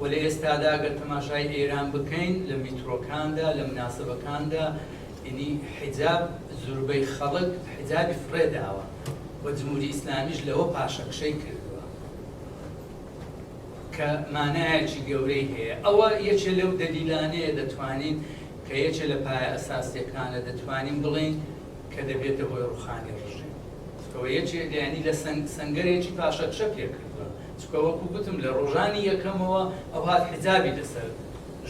وە لە ئێستادا گەر تەماشای ئێران بکەین لە میترۆکاندا لە مناسبەکاندا ینی حیجاب زوربەی خەڵک حیجابی فڕێ داوە وە جموری ئیسلامیش لەوە پاشەکشەی کردوە کە مانایەکی گەورەی هەیە ئەوە یەکێ لەو دەلیلانەیە دەتوانین کە یەکێ لە پایە ئەساسیەکانە دەتوانین بڵێین کە دەبێتە هۆی ڕوخانی ڕژیم کەوە یەکێ دەیانی لە سەنگ سەنگەرێکی پاشەکشە پێکردوە. چونکە وەکو گوتم لە ڕۆژانی یەکەمەوە ئەوهات حیجابی لەسەر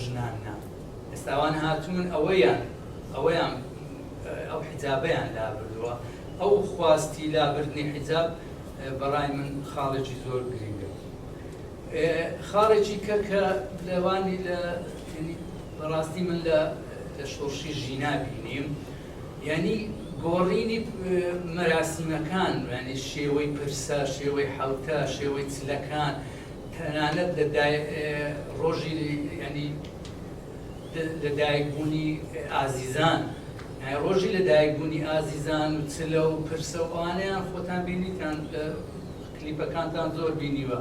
ژنان نا ئێستا ئەوان هاتوون ئەوەیان ئەوەیان ئەو حیجابەیان لابردووە ئەو خواستی لابردنی حیجاب بەڕای من خاڵێکی زۆر گرنگە خاڵێکی کە کە لەوانی لە بەڕاستی من لە لە شۆڕشی ژینا بینیم یانی گۆڕینی مەراسیمەکان، یانی شێوەی پرسە، شێوەی حەوتە، شێوەی چلەکان، تەنانەت لە دای ڕۆژی یانی لە دایک بوونی ئازیزان، یانی ڕۆژی لە دایک بوونی ئازیزان و چلە و پرسە و ئەوانەیان خۆتان بینیتان لە کلیپەکانتان زۆر بینیوە.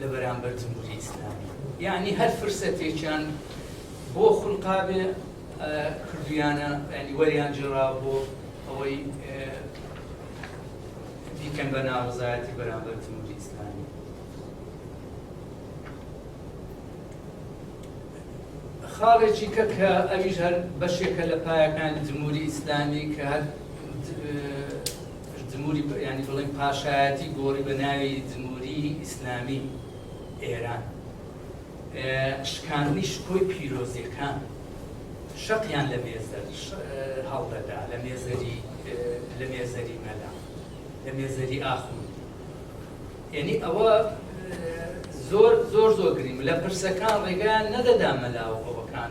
لە بەرامبەر جمهوری ئیسلامی یەعنی هەر فرسەتێکیان بۆ خولقابێ کردویانە یەعنی وەریان جێڕاوە بۆ ئەوەی بیکەن بە ناڕزایەتی بەرامبەر جمهوری ئیسلامی خاڵێکی کە کە ئەویش هەر بەشێکە لە پایەکانی جمهوری ئیسلامی کە هەر جموری یانی بڵێن پاشایەتی گۆڕی بە ناوی جموری ئیسلامی ئێران. شکاندنی شکۆی پیرۆزیەکان شەقیان لە مێزەر هەڵدەدا لە مێزەری لە مێزەری مەلا لە مێزەری ئاخوند یعنی ئەوە زۆر زۆر زۆر گریم لە پرسەکان ڕێگان نەدەدا مەلا و ئەوەکان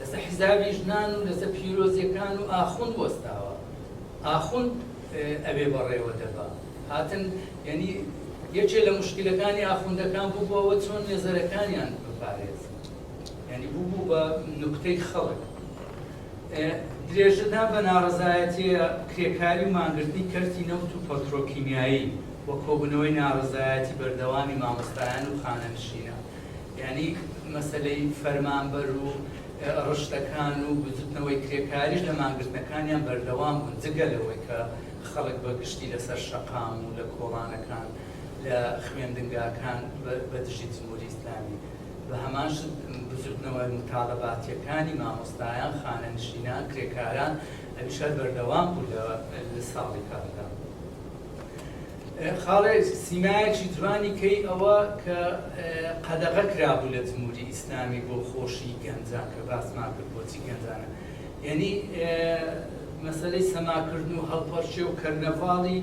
لەسەر حیسابی ژنان و لەسەر پیرۆزیەکان و ئاخوند وەستاوە ئاخوند ئەوێ بەڕێوە دەبا هاتن یەنی یەکێ لە مشکلەکانی ئاخوندەکان بوو بۆەوە چۆن نێزەرەکانیان بپارێزن یعنی بوو بوو بە نوکتەی خەڵک درێژەدا بە ناڕزایەتیە کرێکاری و مانگرتنی کەرتی نەوت و پەترۆکیمیایی و کۆبنەوەی ناڕزایەتی بەردەوامی مامۆستایان و خانەنشینە یانی مەسەلەی فەرمانبەر و ڕشتەکان و بزوتنەوەی کرێکاریش لە مانگرتنەکانیان بەردەوام بوون جگە لەوەی کە خەڵک بە گشتی لەسەر شەقام و لە کۆڵانەکان لە خوێندنگاکان بە دژی جموری ئیسلامی بە هەمان شت بزوتنەوە موتالەباتیەکانی مامۆستایان خانەنشینان کرێکاران ئەویش هەر بەردەوام بوو لە ساڵی کاتدا. خاڵێ سیمایەکی جوانی کەی ئەوە کە قەدەغە کرابوو لە جموری ئیسلامی بۆ خۆشی گەنجان کە باسمان کرد بۆچی گەنجانە یەنی مەسەلەی سەماکردن و هەڵپەڕکێ و کەرنەڤاڵی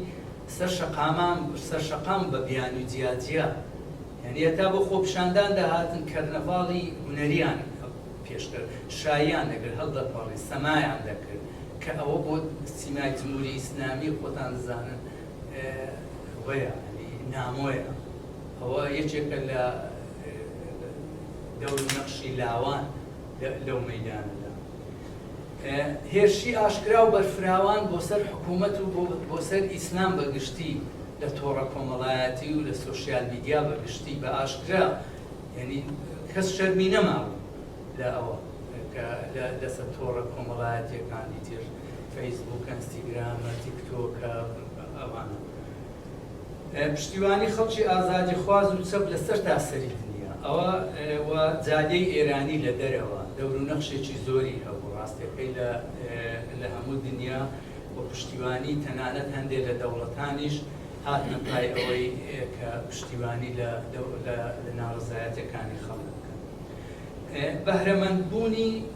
سەر شەقامان سەر شەقام بە بیانی و جیا جیا یەنی هەتا بۆ خۆپیشاندان دەهاتن کەرنەڤاڵی هونەریان پێشکەر شایان دەکرد هەڵدەپەڕی سەمایان دەکرد کە ئەوە بۆ سیمای جموری ئیسلامی خۆتان دەزانن وەیە نامۆیە ئەوە یەکێکە لە دەور نەخشی لاوان لەو مەدانەدا هێرشی ئاشکرا و بەرفراوان بۆ سەر حکوومەت و بۆ سەر ئیسلام بەگشتی لە تۆڕە کۆمەڵایەتی و لە سوسیال میدیا بەگشتی بە ئاشکرا یعنی کەس شەرمی نەماوە لە ئەوە کە لەسەر تۆڕە کۆمەڵایەتیەکانی تر فەیسبوکە ئەنستیگرامە تیکتۆکە ئەوانە پشتیوانی خەڵکی ئازادی خواز و چەپ لە سەر تا سەری دنیا ئەوە و جادەی ئێرانی لە دەرەوە دەور و نەخشێکی زۆری هەبوو ڕاستەکەی لە لە هەموو دنیا و پشتیوانی تەنانەت هەندێک لە دەوڵەتانیش هاتنە پای ئەوەی کە پشتیوانی لە لە ناڕزایەتەکانی خەڵک بکەن بەهرەمەندبوونی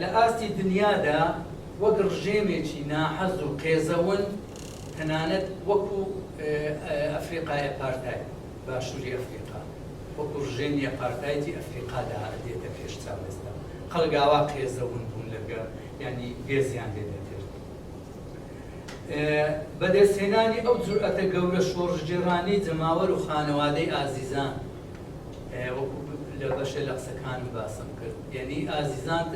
لە ئاستی دنیادا وەک ڕژێمێکی ناحەز و قێزەون، تەنانەت وەکو ئەفریقای ئەپارتاید، باشوری ئەفریقا، وەکو ڕژێمی ئەپارتایدی ئەفریقادا دێتە پێش چاو ئێستا. خەڵک ئاوا قێزەون بوون لەگە، یانی گێزیان لێ دەکرد. بەدەستهێنانی ئەو جورئەتە گەورە شۆڕشگێڕانەی جەماوەر و خانەوادەی ئازیزان، وەکو لە بەشێ لە قسەکانم باسم کرد یەنی ئازیزان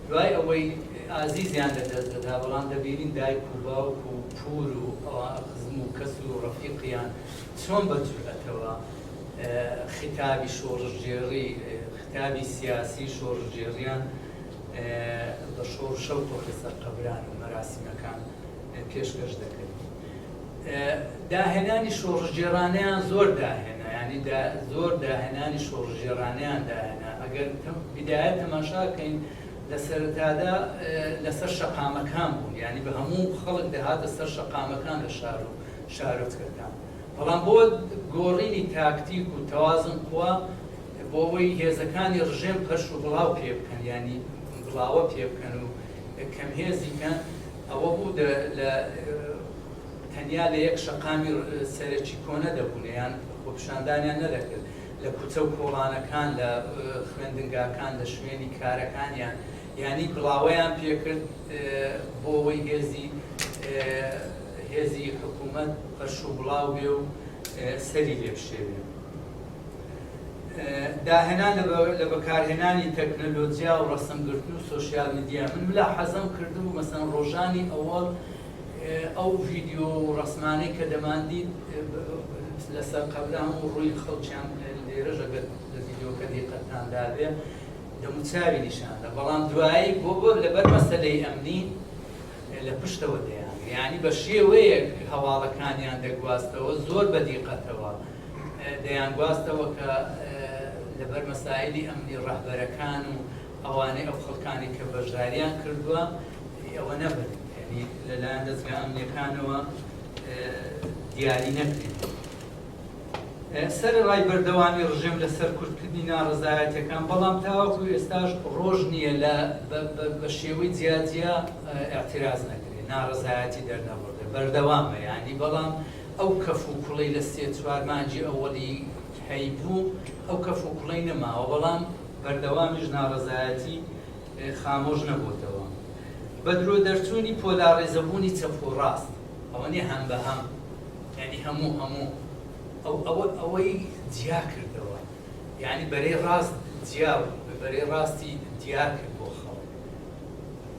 دوای ئەوەی ئازیزیان لە دەست دەدا بەڵام دەبینین دایک و باوک و پور و ئەوە خزم و کەس و ڕەفیقیان چۆن بە جورئەتەوە خیتابی شۆڕشگێڕی خیتابی سیاسی شۆڕشگێڕیان بە شۆڕشە و تۆخی سەر قەبران و مەراسیمەکان پێشکەش دەکرد. داهێنانی شۆڕشگێڕانەیان زۆر داهێنا، یانی زۆر داهێنانی شۆڕشگێڕانەیان داهێنا، ئەگەر بیدایەت تەماشا بکەین لە سەرەتادا لەسەر شەقامەکان بوون، یانی بە هەموو خەڵک دەهاتە سەر شەقامەکان لە شار و شارۆچکەکان، بەڵام بۆ گۆڕینی تاکتیک و تەوازن قوا بۆ ئەوەی هێزەکانی ڕژێم پەرش و بڵاو پێ بکەن، یانی بڵاوە پێ بکەن و کەمهێزی کەن، ئەوە بوو دە لە تەنیا لە یەک شەقامی سەرەکی کۆنە دەبوونە یان خۆپیشاندانیان نەدەکرد، لە کوچە و کۆڵانەکان، لە خوێندنگاکان، لە شوێنی کارەکانیان یانی گڵاوەیان پێکرد بۆوەی هێزی هێزی حکوومەت پەرشوبڵاو بێ و سەری لێ بشێوێ. داهێنان لە بەکارهێنانی تەکنەلۆجیا و ڕەسمگرتن و سۆشیال میدیا من ملا حەزم کردبوو مەسەن ڕۆژانی ئەوەڵ ئەو ڤیددیو و ڕسمانەی کە دەماندی لەسەر قەبرا هەموو ڕووی خەڵکیان لێرەژەگەت لە ڤیددیوکە دیقەتان دابێ دەموچاوی نیشاندا بەڵام دوایی بۆ بۆ لەبەر مەسلەی ئەمنی لە پشتەوە دەیان یعنی بە شێوەیەک هەواڵەکانیان دەگواستەوە زۆر بە دیقەتەوە دەیانگواستەوە کە لەبەر مەسایلی ئەمنی ڕەهبەرەکان و ئەوانەی ئەو خەڵکانی کە بەشداریان کردووە ئەوە نەبن یعنی لەلایەن دەزگا ئەمنیەکانەوە دیاری نەکرێن سەر ڕای بەردەوامی ڕژێم لە سەر کورتکردنی ناڕزایەتەکان بەڵام تاوەکو ئێستاش ڕۆژ نییە لە بە شێوەی جیاجیا اعتراز نەکرێت ناڕزایەتی دەرنەبڕێت بەردەوامە ینی بەڵام ئەو کەف و کوڵەی لە سێ چوار مانگی ئەوەڵی هەیبوو ئەو کەف و کوڵەی نەماوە بەڵام بەردەوامیش ناڕەزایەتی خامۆش نەبۆتەوە بە درۆ دەرچوونی پۆلاڕێزەبوونی چەپ و ڕاست ئەوە نیە هەم بە هەم یانی هەموو هەموو ئەو ئەوە ئەوەی جیا کردەوە یانی بەرەی ڕاست جیا بوو بەرەی ڕاستی دیار کرد بۆ خەڵک.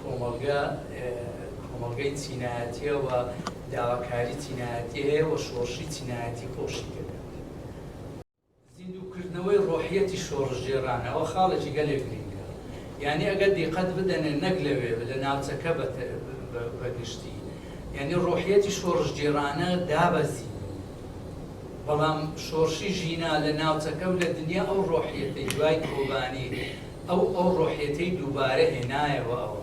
کۆمەڵگە کۆمەڵگەی چینایەتیە و داواکاری چینایەتی هەیە و شۆڕشی چینایەتی خۆشی تێدەکەوێت. زیندوو کردنەوەی ڕۆحیەتی شۆڕشگێڕانە ئەوە خاڵێکی گەلێک گرینگە یانی ئەگەر دیقەت بدەنێ نەک لەوێ لە ناوچەکە بە گشتی یانی ڕۆحیەتی شۆڕشگێڕانە دابەزی بەڵام شۆڕشی ژینا لە ناوچەکە و لە دنیا ئەو ڕۆحیەتەی دوای کۆبانی ئەو ئەو ڕۆحیەتەی دووبارە هێنایەوە ئەوە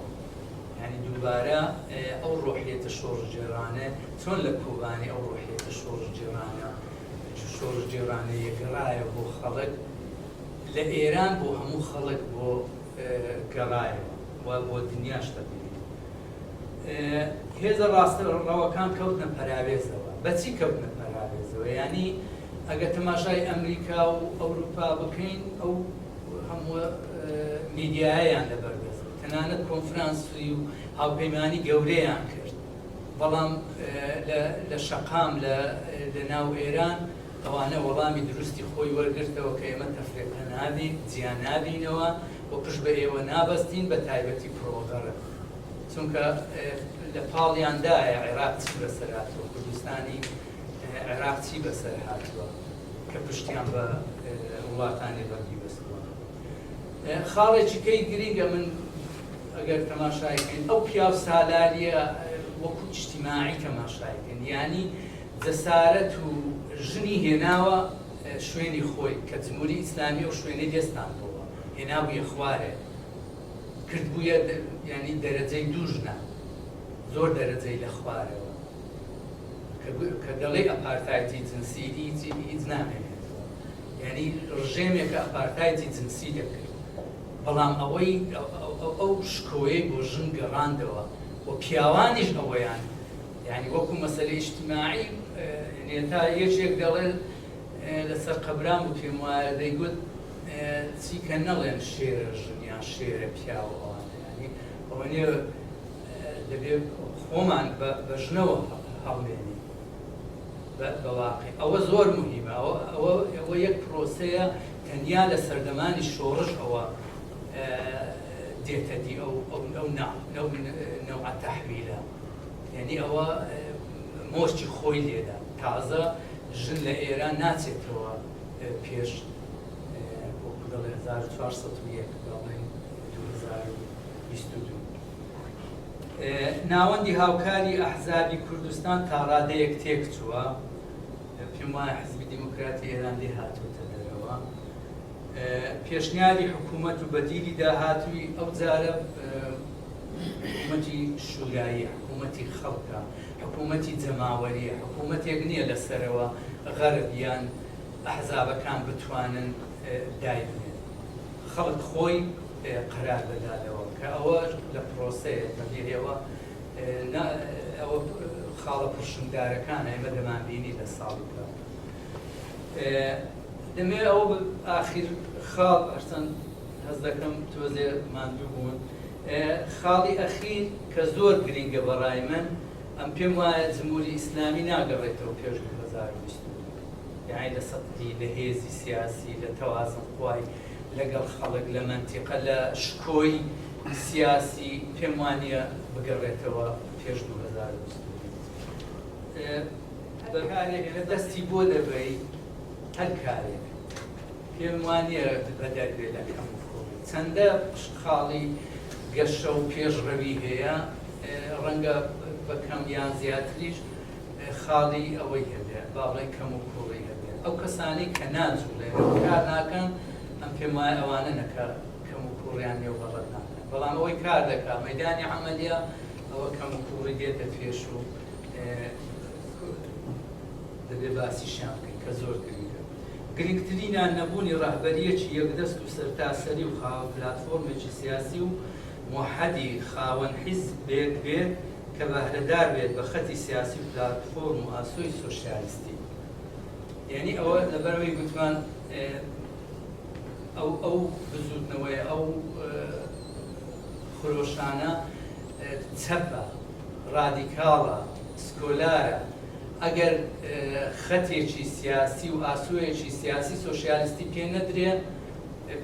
یانی دووبارە ئەو ڕۆحیەتە شۆڕشگێڕانە چۆن لە کۆبانێ ئەو ڕۆحیەتە شۆڕشگێڕانە شۆڕشگێڕانەیە گەڕایەوە بۆ خەڵک لە ئێران بۆ هەموو خەڵک بۆ گەڕایەوە و بۆ دنیاش تەقریبا هێزە ڕاستەڕەوەکان کەوتنە پەراوێزەوە بەچی کەوتنە پەراوێزەوە یانی ئەگەر تەماشای ئەمریکا و ئەوروپا بکەین ئەو هەموو میدیایان لەبەر دەست بوو، تەنانەت کۆنفرانسی و هاوپەیمانی گەورەیان کرد، بەڵام لە شەقام لە ناو ئێران ئەوانە وەڵامی دروستی خۆی وەرگرتەوە کە ئێمە تەفرێقە نابین، جیا نابینەوە و پشت بە ئێوە نابەستین، بە تایبەتی کۆڵغەرب، چونکە لە پاڵیاندایە، عێراق چی بەسەر هاتووە، کوردستانی عێراق چی بەسەر هاتووە. کە پشتیان بە وڵاتانی غەربی بەستووە خاڵێکی کەی گرینگە من ئەگەر تەماشای کەین ئەو پیاو سالاریە وەکو ئیجتیماعی تەماشای کەن یانی جەسارەت و ژنی هێناوە شوێنی خۆی کە جمهوری ئیسلامی و شوێنەی دەستان بۆوە هێنابووە خوارێ کردبووە یانی دەرەجەی دوو ژنە زۆر دەرەجەی لە خوارەوە کە دەڵێی ئەپارتایتی جنسی هیچی هیچ نامێنێتەوە یانی ڕژێمێکە ئەپارتایتی جنسی دەکرد بەڵام ئەوەی ئەو شکۆیەی بۆ ژن گەڕاندەوە و پیاوانیش ئەوەیان یعنی وەکو مەسلە ئیشتماعی نێتا یەکێک دەڵێت لەسەر قەبران و پێم وایە دەیگوت چیکە نەڵێن شێرە ژنیان شێرە پیاوە ئەوانەیانی ئەوەنێ دەبێت خۆمان بە ژنەوە هەڵمێنین بە واقیع ئەوە زۆر موهیمە ئەوە یەک پرۆسەیە تەنیا لە سەردەمانی شۆڕش ئەوە دێتە دی ئەو نەوعە تەحویلە یعنی ئەوە مۆرچی خۆی لێدا تازە ژن لە ئێران ناچێتەوە پێش وەکو دەڵێ 1401 بەڵێن 2022 ناوەندی هاوکاری ئەحزابی کوردستان تاڕادەیەک تێکچووە، پێم وایە حیزبی دێموکراتی ئێران لێ هاتۆتە دەرەوە. پێشنیاری حکوومەت و بەدیلی داهاتووی ئەو جارە حکوومەتی شووراییە، حکوومەتی خەڵکە، حکوومەتی جەماوەریە، حکوومەتێک نییە لە سەرەوە غەرب یان ئەحزابەکان بتوانن دایبنێن. خەڵک خۆی قەرار دەداتەوە کە ئەوە لە پرۆسەیە بەبێ ئێوە نا ئەوە خاڵە پرشنگدارەکانە ئێمە دەمانبینی لە ساڵی دەمێ ئەوە ئاخیر خاڵ ئەرچەند هەز دەکەم تۆزێ ماندوو بوون خاڵی ئەخیر کە زۆر گرنگە بەڕای من ئەم پێم وایە جمهوری ئیسلامی ناگەڕێتەوە پێش 2020 یعنی لە سەدی لە هێزی سیاسی لە تەوازن خوای لەگەڵ خەڵک لە مەنتیقە لە شکۆی سیاسی پێم وانیە بگەڕێتەوە پێش دوو هەزار و بیست و دوو هەر کارێک لە دەستی بۆ دەبەی هەر کارێک پێم وانیە بەدەر بێ لە کەم کۆی چەندە خاڵی گەشە و پێشڕەوی هەیە ڕەنگە بەکەم یان زیاتریش خاڵی ئەوەی هەبێ، با بڵێین کەم و کووڕی هەبێ. ئەو کەسانەی کە ناجووڵێنن، کار ناکەن، من پێم وایە ئەوانەنە کە کەم و کووڕیان نییە و غەڵەت ناکەن. بەڵام ئەوەی کار دەکا، مەیدانی عەمەلییە، ئەوە کەم و کووڕی دێتە پێش و دەبێ باسیشیان بکەین کە زۆر گرینگە. گرینگترینیان نەبوونی ڕەهبەرییەکی یەکدەست و سەرتاسەری و خاوەن پلاتفۆرمێکی سیاسی و، موحەدی خاوەن حیزبێک بێت کە بەهرەدار بێت بە خەتی سیاسی و پلاتفۆرم و ئاسۆی سۆشیالیستی یانی ئەوە لەبەرەوەی گوتمان ئەو ئەو بزوتنەوەی ئەو خرۆشانە چەپە ڕادیکاڵە سکۆلارە ئەگەر خەتێکی سیاسی و ئاسۆیەکی سیاسی سۆشیالیستی پێ نەدرێ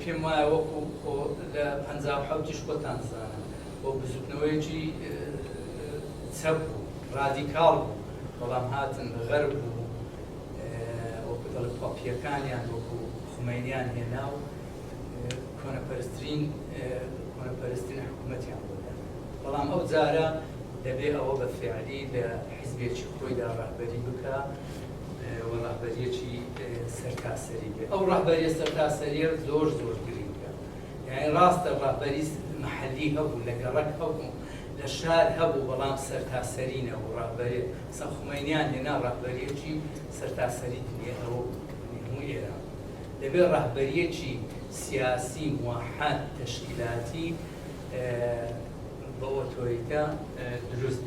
پێم وایە وەکو خۆ لە پەنجا و حەوتیش خۆتان زانن و بزوتنەوەیەکی چەپ و ڕادیکاڵ بوو بەڵام هاتن غەرب و وەکو دەڵێ پەپیەکانیان وەکو خومەینیان هێنا و کۆنەپەرسترین کۆنەپەرسترین حکومەتیان بۆ دانا بەڵام ئەو جارە دەبێ ئەوە بە فیعلی لە حیزبێکی خۆیدا ڕەهبەری بکا. و ڕەهبەریەکی سەرتاسەری بێ ئەو ڕەهبەریە سەرتاسەریە زۆر زۆر گرنگە یاعی ڕاستە ڕەهبەری محلی هەبوو لە گەڕەک هەبوو لە شار هەبوو بەڵام سەرتاسەری نەبوو ڕەهبەری سە خومەینیان هێنا ڕەهبەریەکی سەرتاسەری دنیای ئەوە بوو هەموو ئێران دەبێ ڕەهبەریەکی سیاسی موحد تەشکیلاتی بە ئۆتۆریتە دروست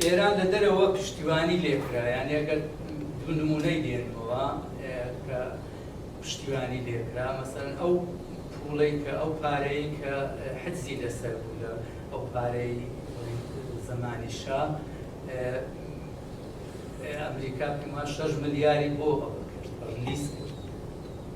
ئێران لە دەرەوە پشتیوانی لێکرا یانی ئەگەر دوو نمونەی دێنمەوە کە پشتیوانی لێکرا مەسەرەن ئەو پوڵەی کە ئەو پارەی کە حەجزی لەسەر بوو لە ئەو پارەی زمانی شا ئەمریکا پێما شەش ملیاری بۆ ئەوە کرد ڕلیس کرد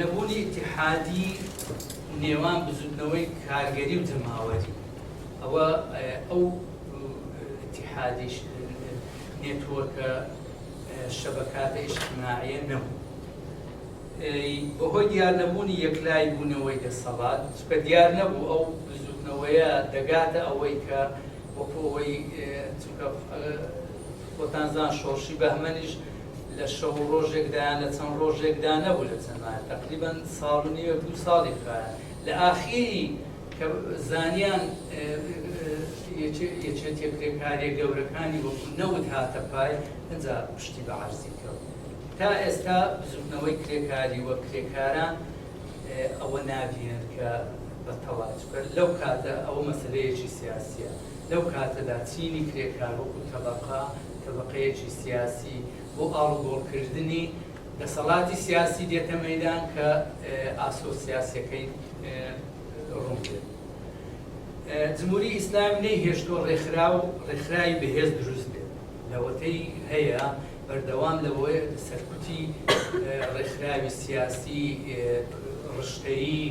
نەبوونی ئیتیحادی نێوان بزوتنەوەی کارگەری و جەماوەری ئەوە ئەو ئیتیحادیش نێتوەرکە شەبەکاتە ئیشتماعیە نەبوو بەهۆی دیار نەبوونی یەکلای بوونەوەی دەسەڵات چکە دیار نەبوو ئەو بزوتنەوەیە دەگاتە ئەوەی کە وەکو ئەوەی چونکە خۆتانزان شۆڕشی بەهمەنیش لە شەو و ڕۆژێکدا یان لە چەند ڕۆژێکدا نەبوو لە چەند مایە تەقریبەن ساڵ و نیوێک دوو ساڵی خوایە لە ئاخیری کە زانیان یەکێتیە کرێکاریە گەورەکانی وەکو نەوت هاتە پای ئەجا پشتی بە عەرزی کەوت تا ئێستا بزوتنەوەی کرێکاری و کرێکاران ئەوە نابینن کە بە تەڵا چووکە لەو کاتە ئەوە مەسەلەیەکی سیاسیە لەو کاتەدا چینی کرێکار وەکو تەبەقە تەبەقەیەکی سیاسی بۆ ئاڵوگۆڵ کردنی دەسەڵاتی سیاسی دێتە مەیدان کە ئاسۆ سیاسیەکەی ڕوون بێت جمهوری ئیسلام نەیهێشتوە ڕێکخراو ڕێکخراوی بەهێز دروست بێت لەوەتەی هەیە بەردەوام لەوەیە کە سەرکوتی ڕێکخراوی سیاسی، ڕشتەیی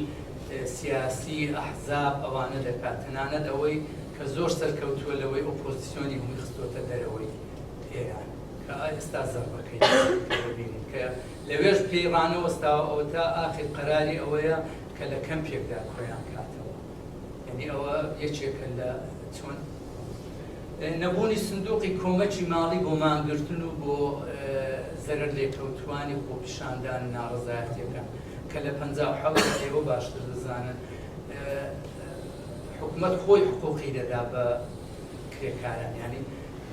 سیاسی، ئەحزاب، ئەوانە دەکات، تەنانەت ئەوەی کە زۆر سەرکەوتووە لەوەی ئۆپۆزسیۆنی هەمووی خستۆتە دەرەوەی ئێران کە ئێستا زەربەکەی دەبینین کە لەوێش پێی ڕانەوەستاوە ئەوە تا ئاخیر قەراری ئەوەیە کە لە کەمپێکدا کۆیان کاتەوە یانی ئەوە یەکێکە لە چۆن نەبوونی سندوقی کۆمەکی ماڵی بۆ مانگرتن و بۆ زەرەر لێکەوتووانی خۆپیشاندان و ناڕەزایەتیەکان کە لە پەنجا و حەوت ئێوە باشتر دەزانن حکومەت خۆی حقوقی دەدا بە کرێکاران ینی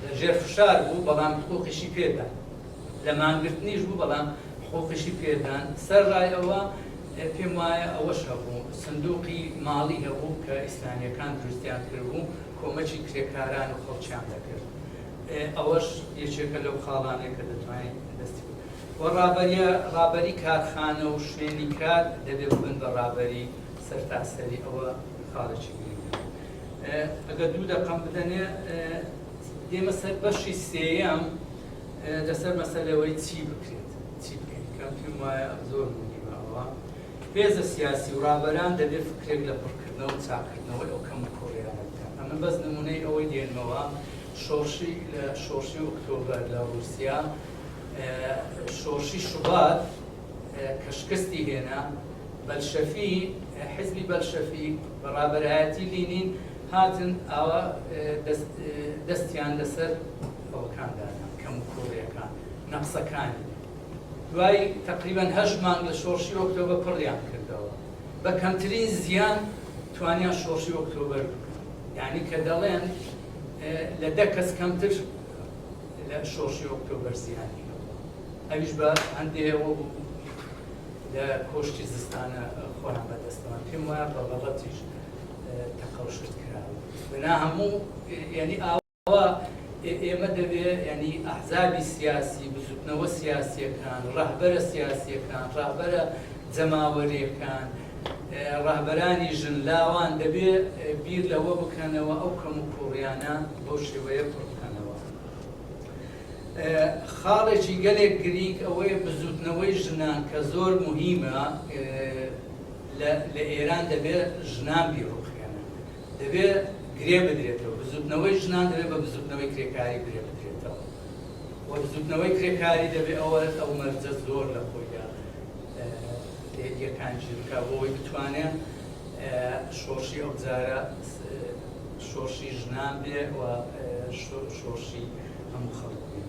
لەژێر فشار بوو بەڵام حقوقیشی پێدا لە مانگرتنیش بوو بەڵام حقوقیشی پێدان سەر ڕایەوە پێم وایە ئەوەش هەبوو سندوقی ماڵی هەبوو کە ئیسلامیەکان دروستیان کردبوو کۆمەکی کرێکاران و خەڵکیان دەکرد ئەوەش یەکێکە لەو خاڵانەی کە دەتوانین دەستی بکەین و ڕابەریە ڕابەری کارخانە و شوێنی کار دەبێ ببن بە ڕابەری سەرتاسەری ئەوە خاڵێکی گرنگە ئەگەر دوو دەقەم بدەنێ دێمە سەر بەشی سێیەم لەسەر مەسەلەی ئەوەی چی بکرێت چی بکەین کە پێم وایە ئەم زۆر ونی ماوە هێزە سیاسی و ڕابەران دەبێت فکرێک لە پڕکردنەوە و چاکردنەوەی ئەو کەم و کوڕیانە بکەن ئەمن بەس نمونەی ئەوەی دێنمەوە شۆڕشی لە شۆڕشی ئۆکتۆبەر لە ڕوسیا شۆڕشی شوبات کە شکستی هێنا بەلشەفی حزبی بەلشەفی بەڕابەرایەتی لینین هاتن ئاوا دەستیان لەسەر ئەوەکاندا نە کەم و کووڕیەکان نە قسەکانی دوای تەقریبەن هەشت مانگ لە شۆڕشی ئۆکتۆبە پڕیان کردەوە بە کەمترین زیان توانیان شۆڕشی ئۆکتۆبەر بکەن یعنی کە دەڵێن لە دە کەس کەمتر لە شۆڕشی ئۆکتۆبەر زیانی ئەویش بە هەندێەوە بوو لە کۆشتی زستانە خۆیان بەدەستەوە پێم وایە بە بەڵەتیش تەقەوشت کراوە بنا هەموو یعنی ئاو ئەوا ئێمە دەبێ یانی ئەحزابی سیاسی، بزوتنەوە سیاسیەکان، ڕەهبەرە سیاسیەکان، ڕەهبەرە جەماوەریەکان، ڕەهبەرانی ژن لاوان دەبێ بیر لەوە بکەنەوە ئەو کەموکوڕیانە بەو شێوەیە پڕ بکەنەوە. خاڵێکی گەلێک گرینگ ئەوەیە بزوتنەوەی ژنان کە زۆر موهیمە لە ئێران دەبێ ژنان بیڕوخێنن. دەبێت گرێ بدرێتەوە، بزووتنەوەی ژنان دەبێت بە بزووتنەوەی کرێکاری گرێ بدرێتەوە و بزووتنەوەی کرێکاری دەبێت ئەوە ئەو مەرجە زۆر لە خۆیدا یەکان گیر بکات بۆ ئەوەی بتوانێت شۆڕشی ئەو جارە شۆڕشی ژنان بێ و شۆڕشی هەموو خەڵک بێ.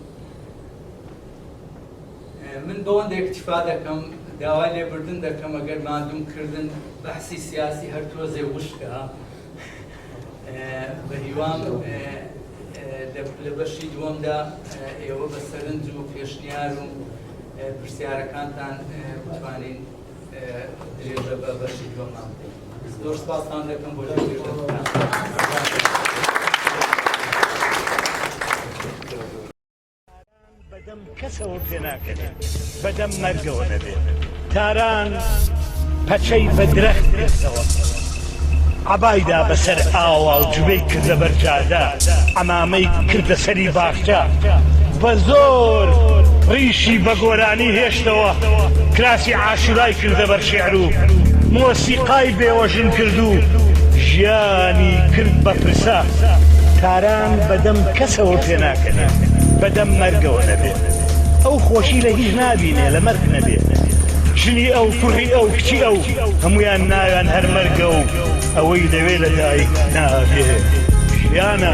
من بەوەندە اکتفا دەکەم داوای لێبردن دەکەم ئەگەر ماندووم کردن بەحسی سیاسی هەر تۆزێ وشکە بەهیوام لە بەشی دووەمدا ئێوە بە سەرنج و پێشنیار و پرسیارەکانتان بتوانین درێژە بە بەشی دووەمان بدەین زۆر سپاسان دەکەم بۆ درێژە بەدەم کەسەوە پێناکەێت بەدەم مەرگەوە نەبێت تاران پەچەی بە درەخت گرتەوە عبایدا بەسەر ئاوا و جوێی کردە بەرجادە ئەمامەی کردە سەری باخچە بە زۆر ڕیشی بە گۆرانی هێشتەوە کراسی عاشورای کردە بەر شعر و مۆسیقای بێوەژن کردو ژیانی کرد بە پرسە تاران ژیان بەدەم کەسەوە پێناکەنێ بەدەم مەرگەوە نەبێ ئەو خۆشی لە هیچ نابینێ لە مەرگ نەبێ ژنی ئەو کوڕی ئەو کچی ئەو هەمویان ناویان هەر مەرگە و ئەوەی لەوێ لە دایک نابێ ژیانە.